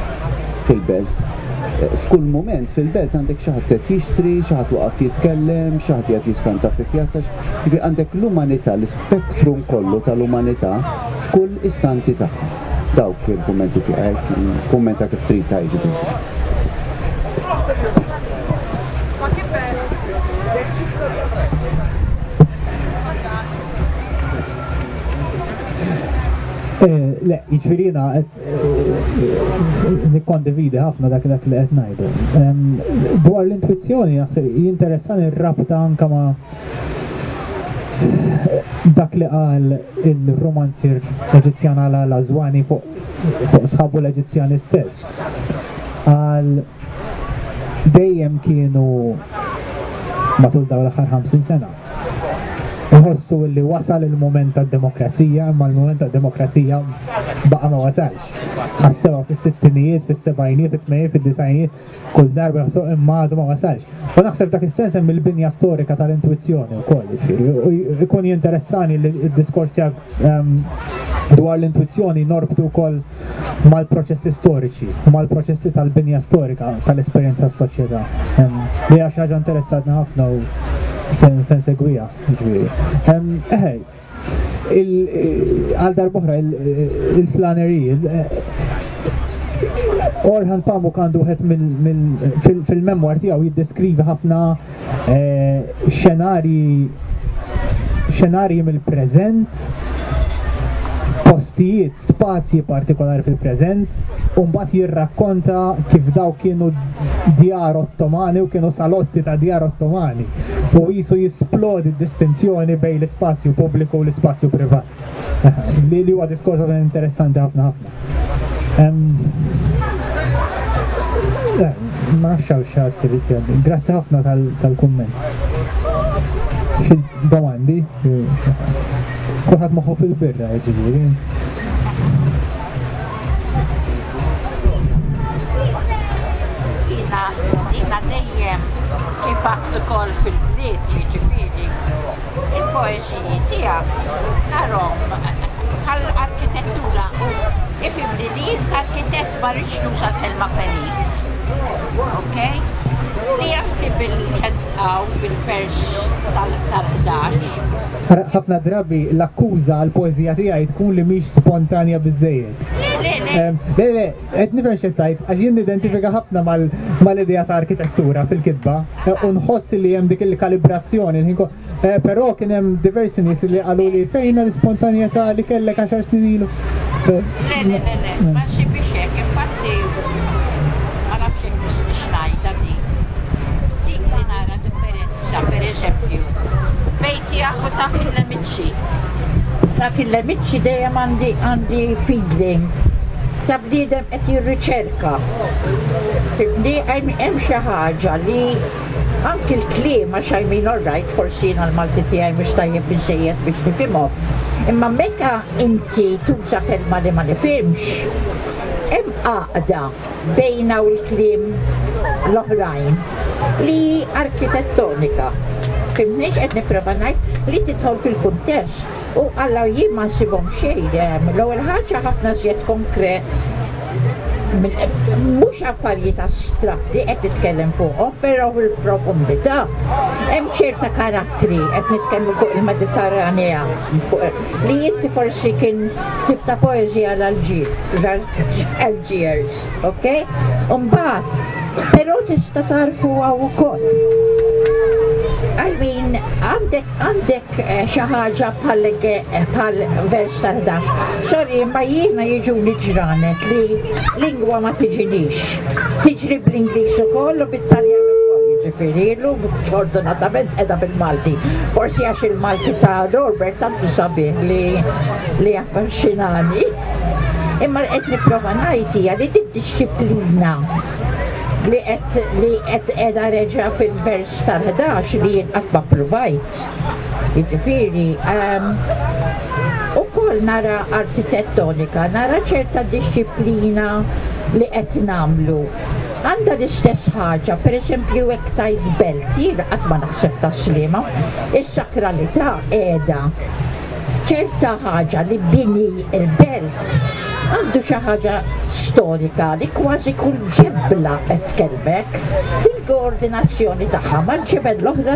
fil-belt. F'kull mument fil-belt għandek xi ħadd qed jixtri, xi ħadd waqaf jitkellem, xi ħadd qiegħed jiskanta fi pjazza, jiġifieri għandek l-umanità, l-ispektrum kollu tal-umanità f'kull istanti tagħha. Dawk il-kummenti tiegħi, kummenta kif trid ta' jiġifieri. Eh, le, jiġifieriena eh, nikkondividi ħafna dak dak li qed ngħidu. Dwar l-intuizzjoni jinteressani r-rabta anke ma' dak li qal il-romanzier Eġizzjan għal Azwani fuq sħabu l-Eġizzjani stess. Għal dejjem kienu matul dawn l-aħħar 50 sena iħossu li wasal il-moment tad-demokrazija, imma l-moment tad-demokrazija baqa ma wasalx. Ħassewa fis-sittinijiet, fis-sebajnijiet, fit-tmejjiet, fid-disajnijiet, kull darba ħassu imma għadu ma wasalx. U naħseb dak is-sens hemm il-binja storika tal-intuizzjoni wkoll, jiġifieri. ikun jinteressani li d-diskors tiegħek ehm, dwar l-intuizzjoni norbtu wkoll mal-proċessi storiċi, mal-proċessi tal-binja storika tal-esperjenza tas-soċjetà. Li għax ħaġa interessatni ħafna u se nsegwiha, ġifieri. Eħej, għal darbohra il-flanery, Orhan Pamuk għandu wieħed fil-memwar tiegħu jiddeskrivi ħafna eh, xenarji xenarji mill-preżent postijiet spazji partikolari fil-preżent u mbagħad jirrakkonta kif daw kienu djar ottomani u kienu salotti ta' djar ottomani u jisu jisplodi distinzjoni bejn l-ispazju pubbliku u l-ispazju privat. Li li huwa diskors interessanti ħafna ħafna. Ma nafx għaw xaħat t-rit Grazzi ħafna tal-kumment. Xi domandi? Kulħadd moħħu fil-birra jiġifieri. Jiena jiena dejjem kif għadd ukoll fil-bliet jiġifieri il-poeżiji tiegħek narhom bħall-arkitettura u ifimni li jint arkitett ma rridx nuża l-kelma perit. Ok? Li jafti bil-ħedqa u bil-vers tal-11 Ħafna drabi l-akkuża għal poeżija tiegħi tkun li mhix spontanja biżejjed. Le, le, qed nifhem xi tajt, għax jien nidentifika ħafna mal-idea ta' arkitettura fil-kitba e, u nħoss li hemm dik il-kalibrazzjoni. E, però kien hemm diversi nies li qalu li fejna l-ispontanjetà li kellek għaxar snin ilu. Le, le, le, le, ma xi biex hekk, infatti ma nafx hekk biex ngħidha dik. Dik li nara differenti Brescia, per eżempju, bejn tiegħek u dak il-lemiċċi. Dak il-lemiċċi dejjem għandi għandi feeling ta' bniedem qed jirriċerka. Fibni hemm xi ħaġa li anki l-kliem għax I mean all right, forsi jiena l-Malti tiegħi mhux tajjeb biżejjed biex nifhimhom. Imma meta inti tuża kelma li ma nifhimx, hemm għaqda bejna u l-kliem l-oħrajn li hi arkitettonika. Fimtniex qed nipprova ngħid li tidħol fil-kuntest u Alla jien ma nsibhom xejn ehm, l-ewwel ħaġa ħafna żjed konkret mhux affarijiet astratti qed titkellem fuqhom, però fil-profondità hemm ċerta karattri qed nitkellmu fuq il-Mediterranea fuq li inti forsi kien ktib ta' poeżija l-ġid Algiers, ok? Umbat, pero tista tarfu għaw ukoll. I mean, għandek għandek eh, xi ħaġa bħal eh, vers tal-dax. Sorry, ma jiena jiġu ġranet li lingwa ma tiġinix. Tiġri bl-Ingliż ukoll u bit-Taljan ġifiri, l-lum fortunatament edha bil-Malti. Forsi għax il-Malti ta' Norbert tantu sabiħ li li affaxxinani. Imma qed nipprova ngħid hija li did-dixxiplina li qed li qed qiegħda reġa' fil-vers tal-11 li jien qatt ma provajt. Jiġifieri ehm, ukoll nara arkitettonika, nara ċerta dixxiplina li qed nagħmlu. Għandha l-istess ħaġa, pereżempju hekk tajt belt, jien qatt ma naħseb ta' slima, is-sakralità qiegħda Fkirt ta' ħaġa li bini l-belt għandu xi ħaġa storika li kważi kull ġebla qed tkellmek fil-koordinazzjoni tagħha mal-ġebel l-oħra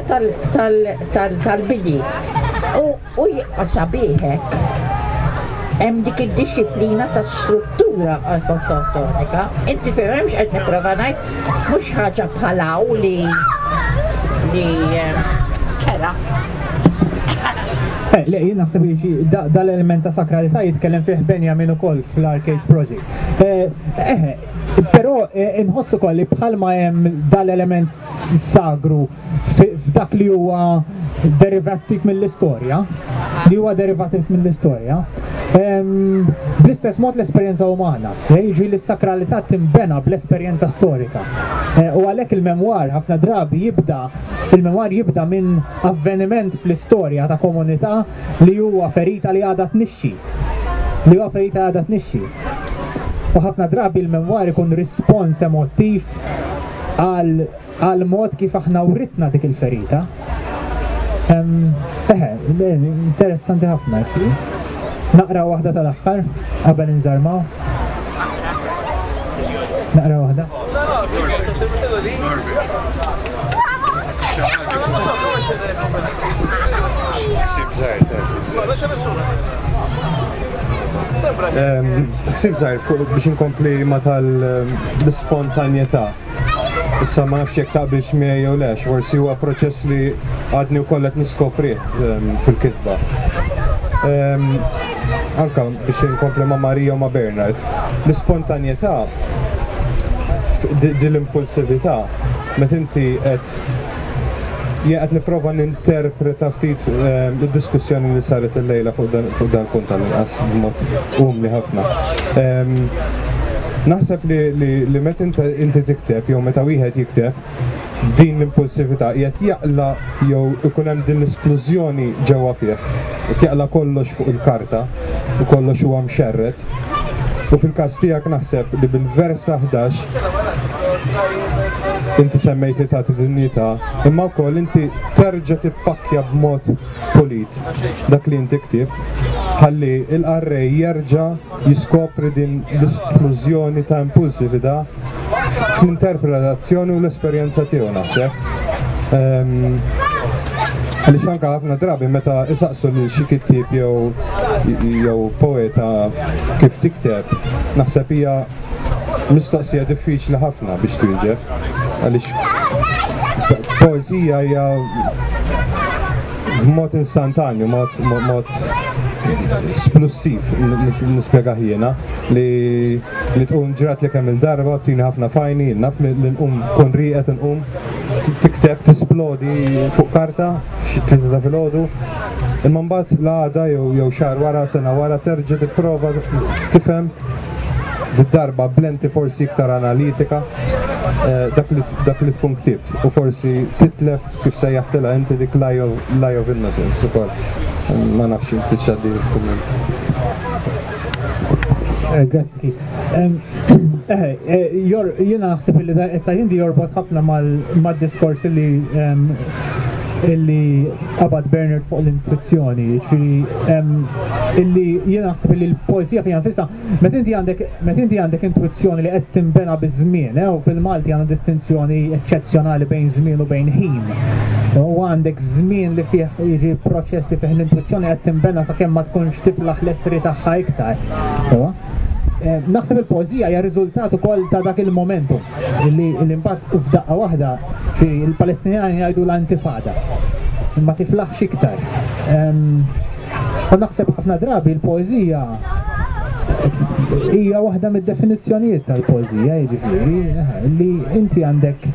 tal-bini. U jibqa' sabiħ hekk. Hemm dik id-dixxiplina ta' struttura arkitettonika. Inti fehmemx qed nipprova ngħid? Mhux ħaġa bħal hawn li li kera. Eh, le, jien naħseb li dal-element ta' sakralità jitkellem fih Benjamin ukoll fl-Arcades Project. Eh, eh, però inħossu koll li bħalma hemm dal-element sagru f'dak li huwa derivattiv mill-istorja, li huwa derivattiv mill-istorja, bl-istess mod l-esperjenza umana, eh, jiġri li s-sakralità timbena bl-esperjenza storika. Eh, u għalhekk il-memwar ħafna drabi jibda, il-memwar jibda minn avveniment fl-istorja ta' komunità li huwa ferita li għadha tnixxi. Li huwa ferita għadha tnixxi. U ħafna drabi il-memwar ikun rispons emotiv għal għall-mod kif aħna writna dik il-ferita. Eħe, interessanti ħafna ġi. Naqra waħda tal-axħar, qabel nżarmaw. Naqra waħda. Xsib zaħir fuq biex inkompli ma tal-spontanjeta. Issa ma nafx jekk taqbilx miegħi jew le, forsi huwa proċess li għadni wkoll qed niskoprih ehm, fil-kitba. Ehm, anka biex inkompli ma' Marija u ma' Bernard, l-ispontanjetà, din l-impulsività, meta inti qed Jien qed nipprova ninterpreta ftit ehm, id-diskussjoni li saret il-lejla fuq dan punt tal-inqas b'mod umli ħafna. Ehm, naħseb li meta inti tikteb jew meta wieħed jikteb din l-impulsività qiegħed jaqla jew ikun hemm din l-isplużjoni ġewwa fih. qed jaqla' kollox fuq il-karta u kollox huwa mxerred u fil-każ tiegħek naħseb li bil-versa ħdax inti semmejt li tagħti dinjità imma wkoll inti terġa' tippakkja b'mod pulit dak li inti ktibt ħalli l-qarrej jerġa' jiskopri din l-isplużjoni ta' impulsività fl-interpretazzjoni u l-esperjenza tiegħu naħseb. Għaliex anke ħafna drabi meta isaqsu lil xi kittieb jew jew poeta kif tikteb, naħseb hija mistoqsija diffiċli ħafna biex twieġeb. Għaliex poeżija hija b'mod instantanju, mod mod splussiv nispjega ħjiena li li tqum ġrat li kemm il-darba tini ħafna fajni, naf li nqum kun riqet nqum tikteb tisplodi fuq karta xi tlieta ta' filgħodu. Imma mbagħad l-għada jew xahar wara sena wara terġa' tipprova tifhem darba blenti forsi iktar analitika eh, dak li tkun ktibt u forsi titlef Kif sejjaħtilha inti dik l-eye of innocence ukoll. Ma nafx inti x'għaddi kumment. Eh, Grazzi kif. Eh, eh, Jena naħseb li ta' hindi jorbot ħafna mal-diskors li illi qabad Bernard fuq l-intuizzjoni, ġifiri illi jena naħseb illi l-poezija fija nfissa Meta inti għandek meta inti għandek intwizzjoni li qed tinbena biż-żmien, eh, u fil-Malti għandna distinzjoni eċċezzjonali bejn żmien u bejn ħin. So, u għandek żmien li fih jiġi proċess li fih l-intwizzjoni qed tinbena sakemm ma tkunx tiflaħ l-essri tagħha iktar. So, Eh, naħseb il-poezija hija riżultat ukoll ta' dak il-momentu li l-impatt f'daqqa waħda fi l-Palestinjani jgħidu l-antifada. Ma tiflaħx iktar. Ehm, U naħseb ħafna drabi l-poezija hija waħda mid-definizzjonijiet tal-poezija, jiġifieri li inti għandek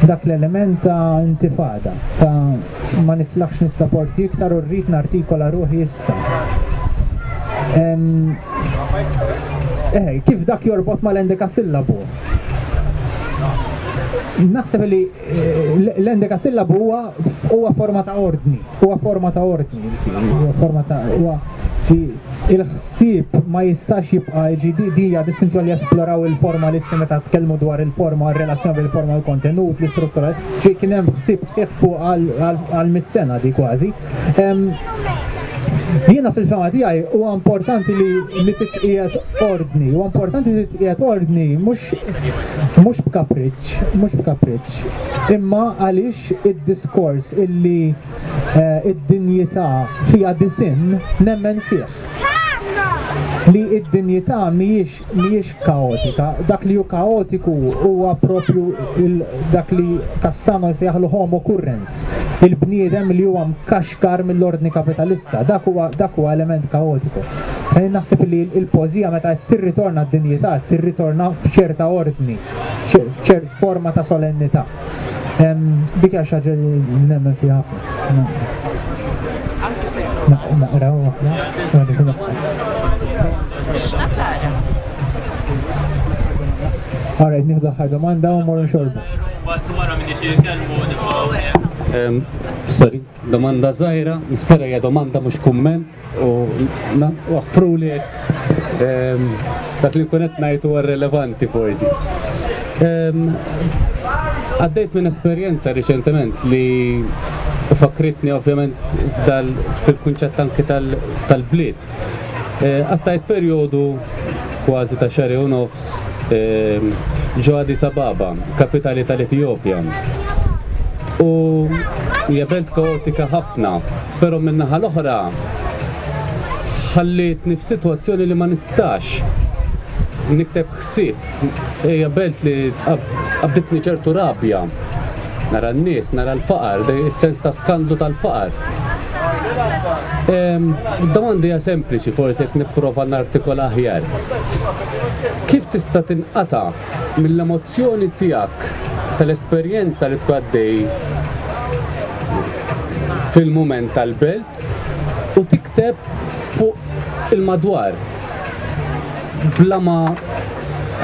dak l-element ta' intifada, ta' ma niflaħx nissaporti iktar u rrid nartikola ruħi issa. Eħe, kif dak jorbot mal-endeka sillabu? Naħseb li L-endekasillabu huwa huwa forma ta' ordni, huwa forma ta' ordni, huwa forma ta' huwa il-ħsieb ma jistax jibqa' ġidi dija distinzjoni jesploraw il-formalisti meta tkellmu dwar il-forma, relazzjoni bil-forma u l-kontenut, l-istruttura, ġi kien hemm ħsieb sħiħ fuq għal mit sena di kważi. Jiena fil-fema tiegħi huwa importanti li li titqiegħed ordni, huwa importanti li titqiegħed ordni mhux mhux b'kapriċċ, b'kapriċċ, mhux b'kapriċċ, imma għaliex id-diskors illi d-dinjità fiha disinn nemmen fih. Li d-dinjità mhijiex kaotika, dak li hu kaotiku huwa proprju dak li Cassano jsejjaħlu homo currens, il-bniedem li huwa mkaxkar mill-ordni kapitalista, dak huwa element kaotiku. Naħseb li l-poeżija meta qed tirritorna d-dinjità qed tirritorna f'ċerta ordni. f'ċert forma ta' solennità. Dik għax ħaġa li nemmen fi ħafna. Naqra u ħafna. Għarajt nieħdu ħar domanda u morru xorbu. Sorry, domanda zaħira, nispera hija domanda mhux kumment. U waħfru li ehm, dak li kunet najtu għar relevanti forsi. Ehm, għaddejt minn esperjenza riċentement li fakritni ovvjament fil-kunċett anki tal-bliet. Eh, għattajt periodu kważi ta' xari u nofs ehm, ġo Addis Ababa, kapitali tal-Etjopja. U hija belt kaotika ħafna Però min-naħa l-oħra ħallietni f'sitwazzjoni li ma nistax nikteb ħsieb. Hija belt li qabditni ċertu rabja. Nara n-nies, nara l-faqar, is-sens ta' skandlu tal-faqar. Domandi hija sempliċi forsi qed nipprova nartikola aħjar. Kif tista' tinqata' mill-emozzjoni tiegħek tal-esperjenza li tkun għaddej fil-mument tal-belt u tikteb fuq il-madwar. Bla ma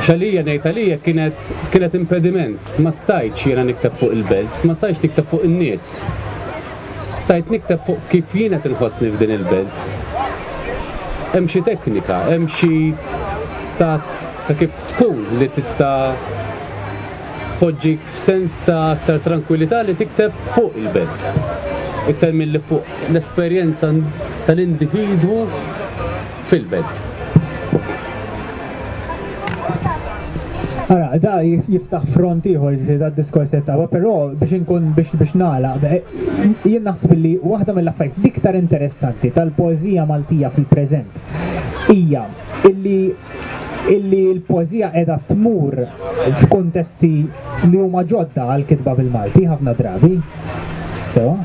xalija ngħid għalija kienet kienet impediment, ma stajtx jiena nikteb fuq il-belt, ma stajtx nikteb fuq in-nies. Stajt nikteb fuq kif jien qed inħossni f'din il-belt. Hemm xi teknika, hemm xi stat ta' kif tkun li tista' poġġik f'sens ta' aktar trankwilità li tikteb fuq il-belt. Iktar milli fuq l-esperjenza tal-individwu fil-belt. Ara, da jiftaħ front ieħor da diskors ta' però biex inkun biex biex nagħlaq jien naħseb li waħda mill-affarijiet l-iktar interessanti tal-poeżija Maltija fil-preżent hija illi illi l-poezija edha tmur f'kuntesti li huma ġodda għal kitba bil-Malti ħafna drabi. Sewa?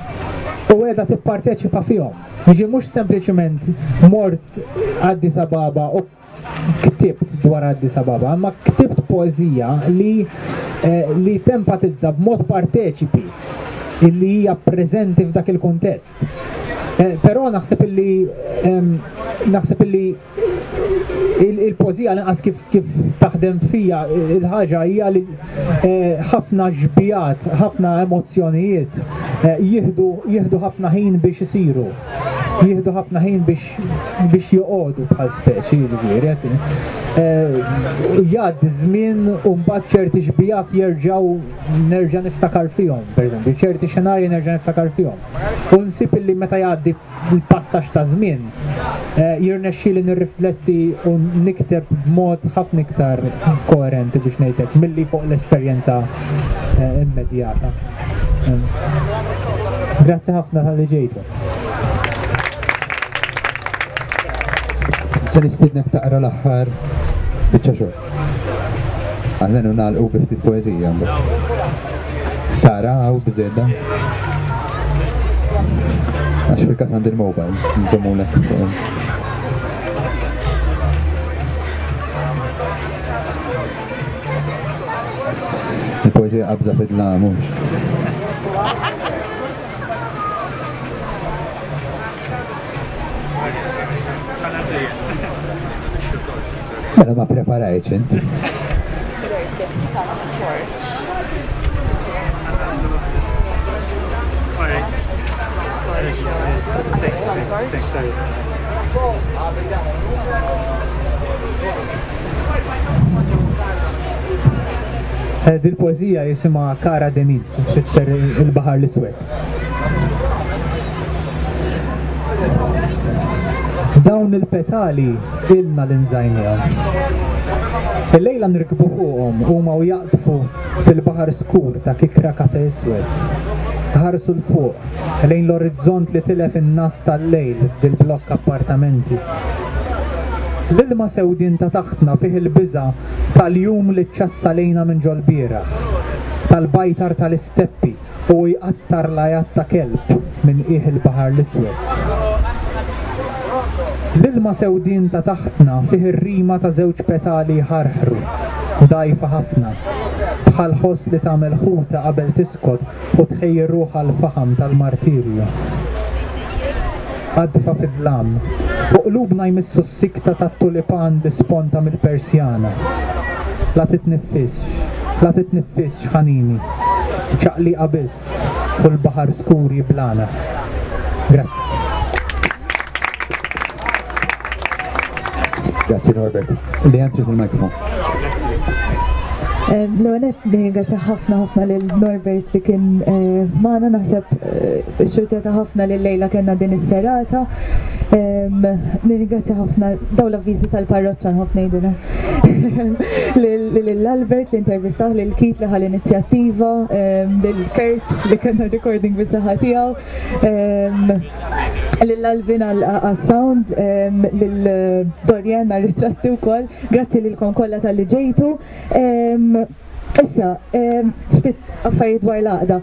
U edha tipparteċipa fihom. Jiġi mhux sempliċement mort Addis Ababa u ktibt dwar Addis Ababa, imma ktibt poezija li eh, li tempatizza b'mod parteċipi illi hija preżenti f'dak il-kuntest. Eh, però naħseb illi ehm, naħseb illi il-pożija l-inqas kif, kif taħdem fija il-ħaġa hija li eh, ħafna ġbijat, ħafna emozzjonijiet eh, jihdu ħafna ħin biex isiru. Jihdu ħafna ħin biex biex joqogħdu bħal speċi jiġifieri. Eh, jgħad żmien u mbagħad ċerti ġbijat jerġgħu nerġa' niftakar fihom, pereżempju, ċerti xenarji nerġa' niftakar fihom. U nsib illi meta jgħaddi bil-passaġġ taż-żmien, jirnexxieli nirrifletti u nikteb b'mod ħafna iktar koerenti biex ngħid hekk milli fuq l-esperjenza immedjata. Grazzi ħafna tal-li ġejtu. Se nistidnek taqra l-aħħar biċċa xogħol. Għalmenu nagħlqu bi ftit poeżija. Tara hawn biżedda. Għax fil-każ għandi l-mobile, nżommulek. Il-poeżija qabża fidla mhux. Mela ma preparajċ int. Eh, dil-poezija jisima Kara Deniz. tfisser il-Baħar l-Iswed. Dawn il-petali ilna l-inżajnijom. Il-lejla nirkbu fuqhom huma u jaqtfu fil-baħar skur ta' kikra kafe iswed. Ħarsu l-fuq, lejn l-orizzont li tilef in-nas tal-lejl f'dil blokk appartamenti. L-ilma sewdin ta' taħtna fih il-biża tal-jum li ċċassa lejna minn ġol-bieraħ, tal-bajtar tal-isteppi u hu jqattar l-għajat ta' kelb minn qiegħ il-Baħar l-Iswed. L-ilma sewdien ta' taħtna fih ir-rima ta' żewġ petali jħarħru, dgħajfa ħafna, bħal ħoss li tagħmel ħuta qabel tiskot u tħejji ruħha għall-faħam tal-martirju. Qadfa fid-dlam, u qlubna jmissu Sikta tat-tulipan bi sponta mill-persjana. La titniffisx, la titniffisx ħanini. Ċaqliqa biss u l-baħar skur jiblagħna. Grazzi. Grazzi Norbert. Li għantri il-mikrofon. L-għonet nirgħata ħafna ħafna l-Norbert li kien eh, maħna naħseb eh, Xxurteta ħafna li llejla kellna din is-serata. Nirringrazzja ħafna daw l-avviżi tal-parroċċa nħobb ngħidilha. Lil Albert li intervistah, lil Kit li ħal inizjattiva, lil Kurt li kellna recording bis-saħħa tiegħu, lil Alvin għas-sound, lil Dorian għar-ritratti wkoll. Grazzi lilkom kollha talli ġejtu. Issa, ftit affarijiet dwar l-għaqda.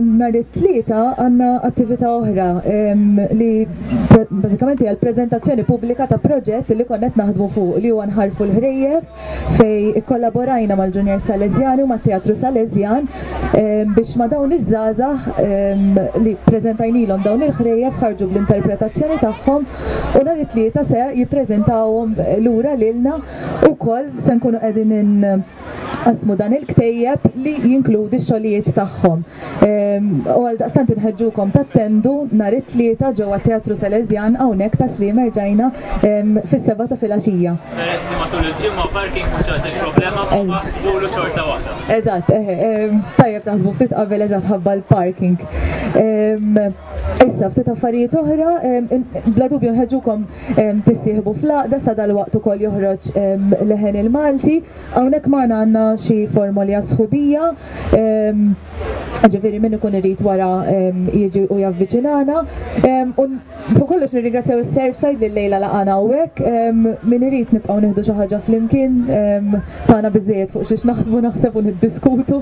Nhar it-tlieta għandna attività oħra li bażikament hija l-preżentazzjoni pubblika ta' proġett li konna qed naħdmu fuq li huwa nħarfu l-ħrejjef fejn ikkollaborajna mal-Junior Salesjani u mat-Teatru Salesjan biex ma' dawn iż-żgħażagħ li ppreżentajnilhom dawn il-ħrejjef ħarġu bl-interpretazzjoni tagħhom u nhar it-tlieta se jippreżentawhom lura lilna wkoll se nkunu qegħdin Qassmu dan il-ktejjeb li jinkludi x-xogħlijiet tagħhom. Ehm, u għal daqstant inħeġġukom tattendu nhar it-tlieta ġewwa Teatru Salesjan hawnhekk ta' Slim erġajna ehm, fis-seba' ta' filgħaxija. Peress li matul il-ġimgħa parking mhux għasek problema ma baħsbulu xorta waħda. Eżatt, ehm, tajjeb taħsbu ftit qabel eżatt ħabba l-parking. Issa, ftit affarijiet oħra, bla dubju nħeġukom tissieħbu fl-għaqda sa dal-waqt ukoll joħroġ leħen il-Malti. Hawnhekk magħna għandna xi formoli għas-sħubija. Ġifieri min ikun irid wara jiġi u javviċinana. U fuq kollox nirringrazzjaw is-Surfside li llejla laqana hawnhekk. Min irid nibqgħu nieħdu xi ħaġa flimkien tagħna biżżejjed fuq xiex naħsbu naħseb u niddiskutu.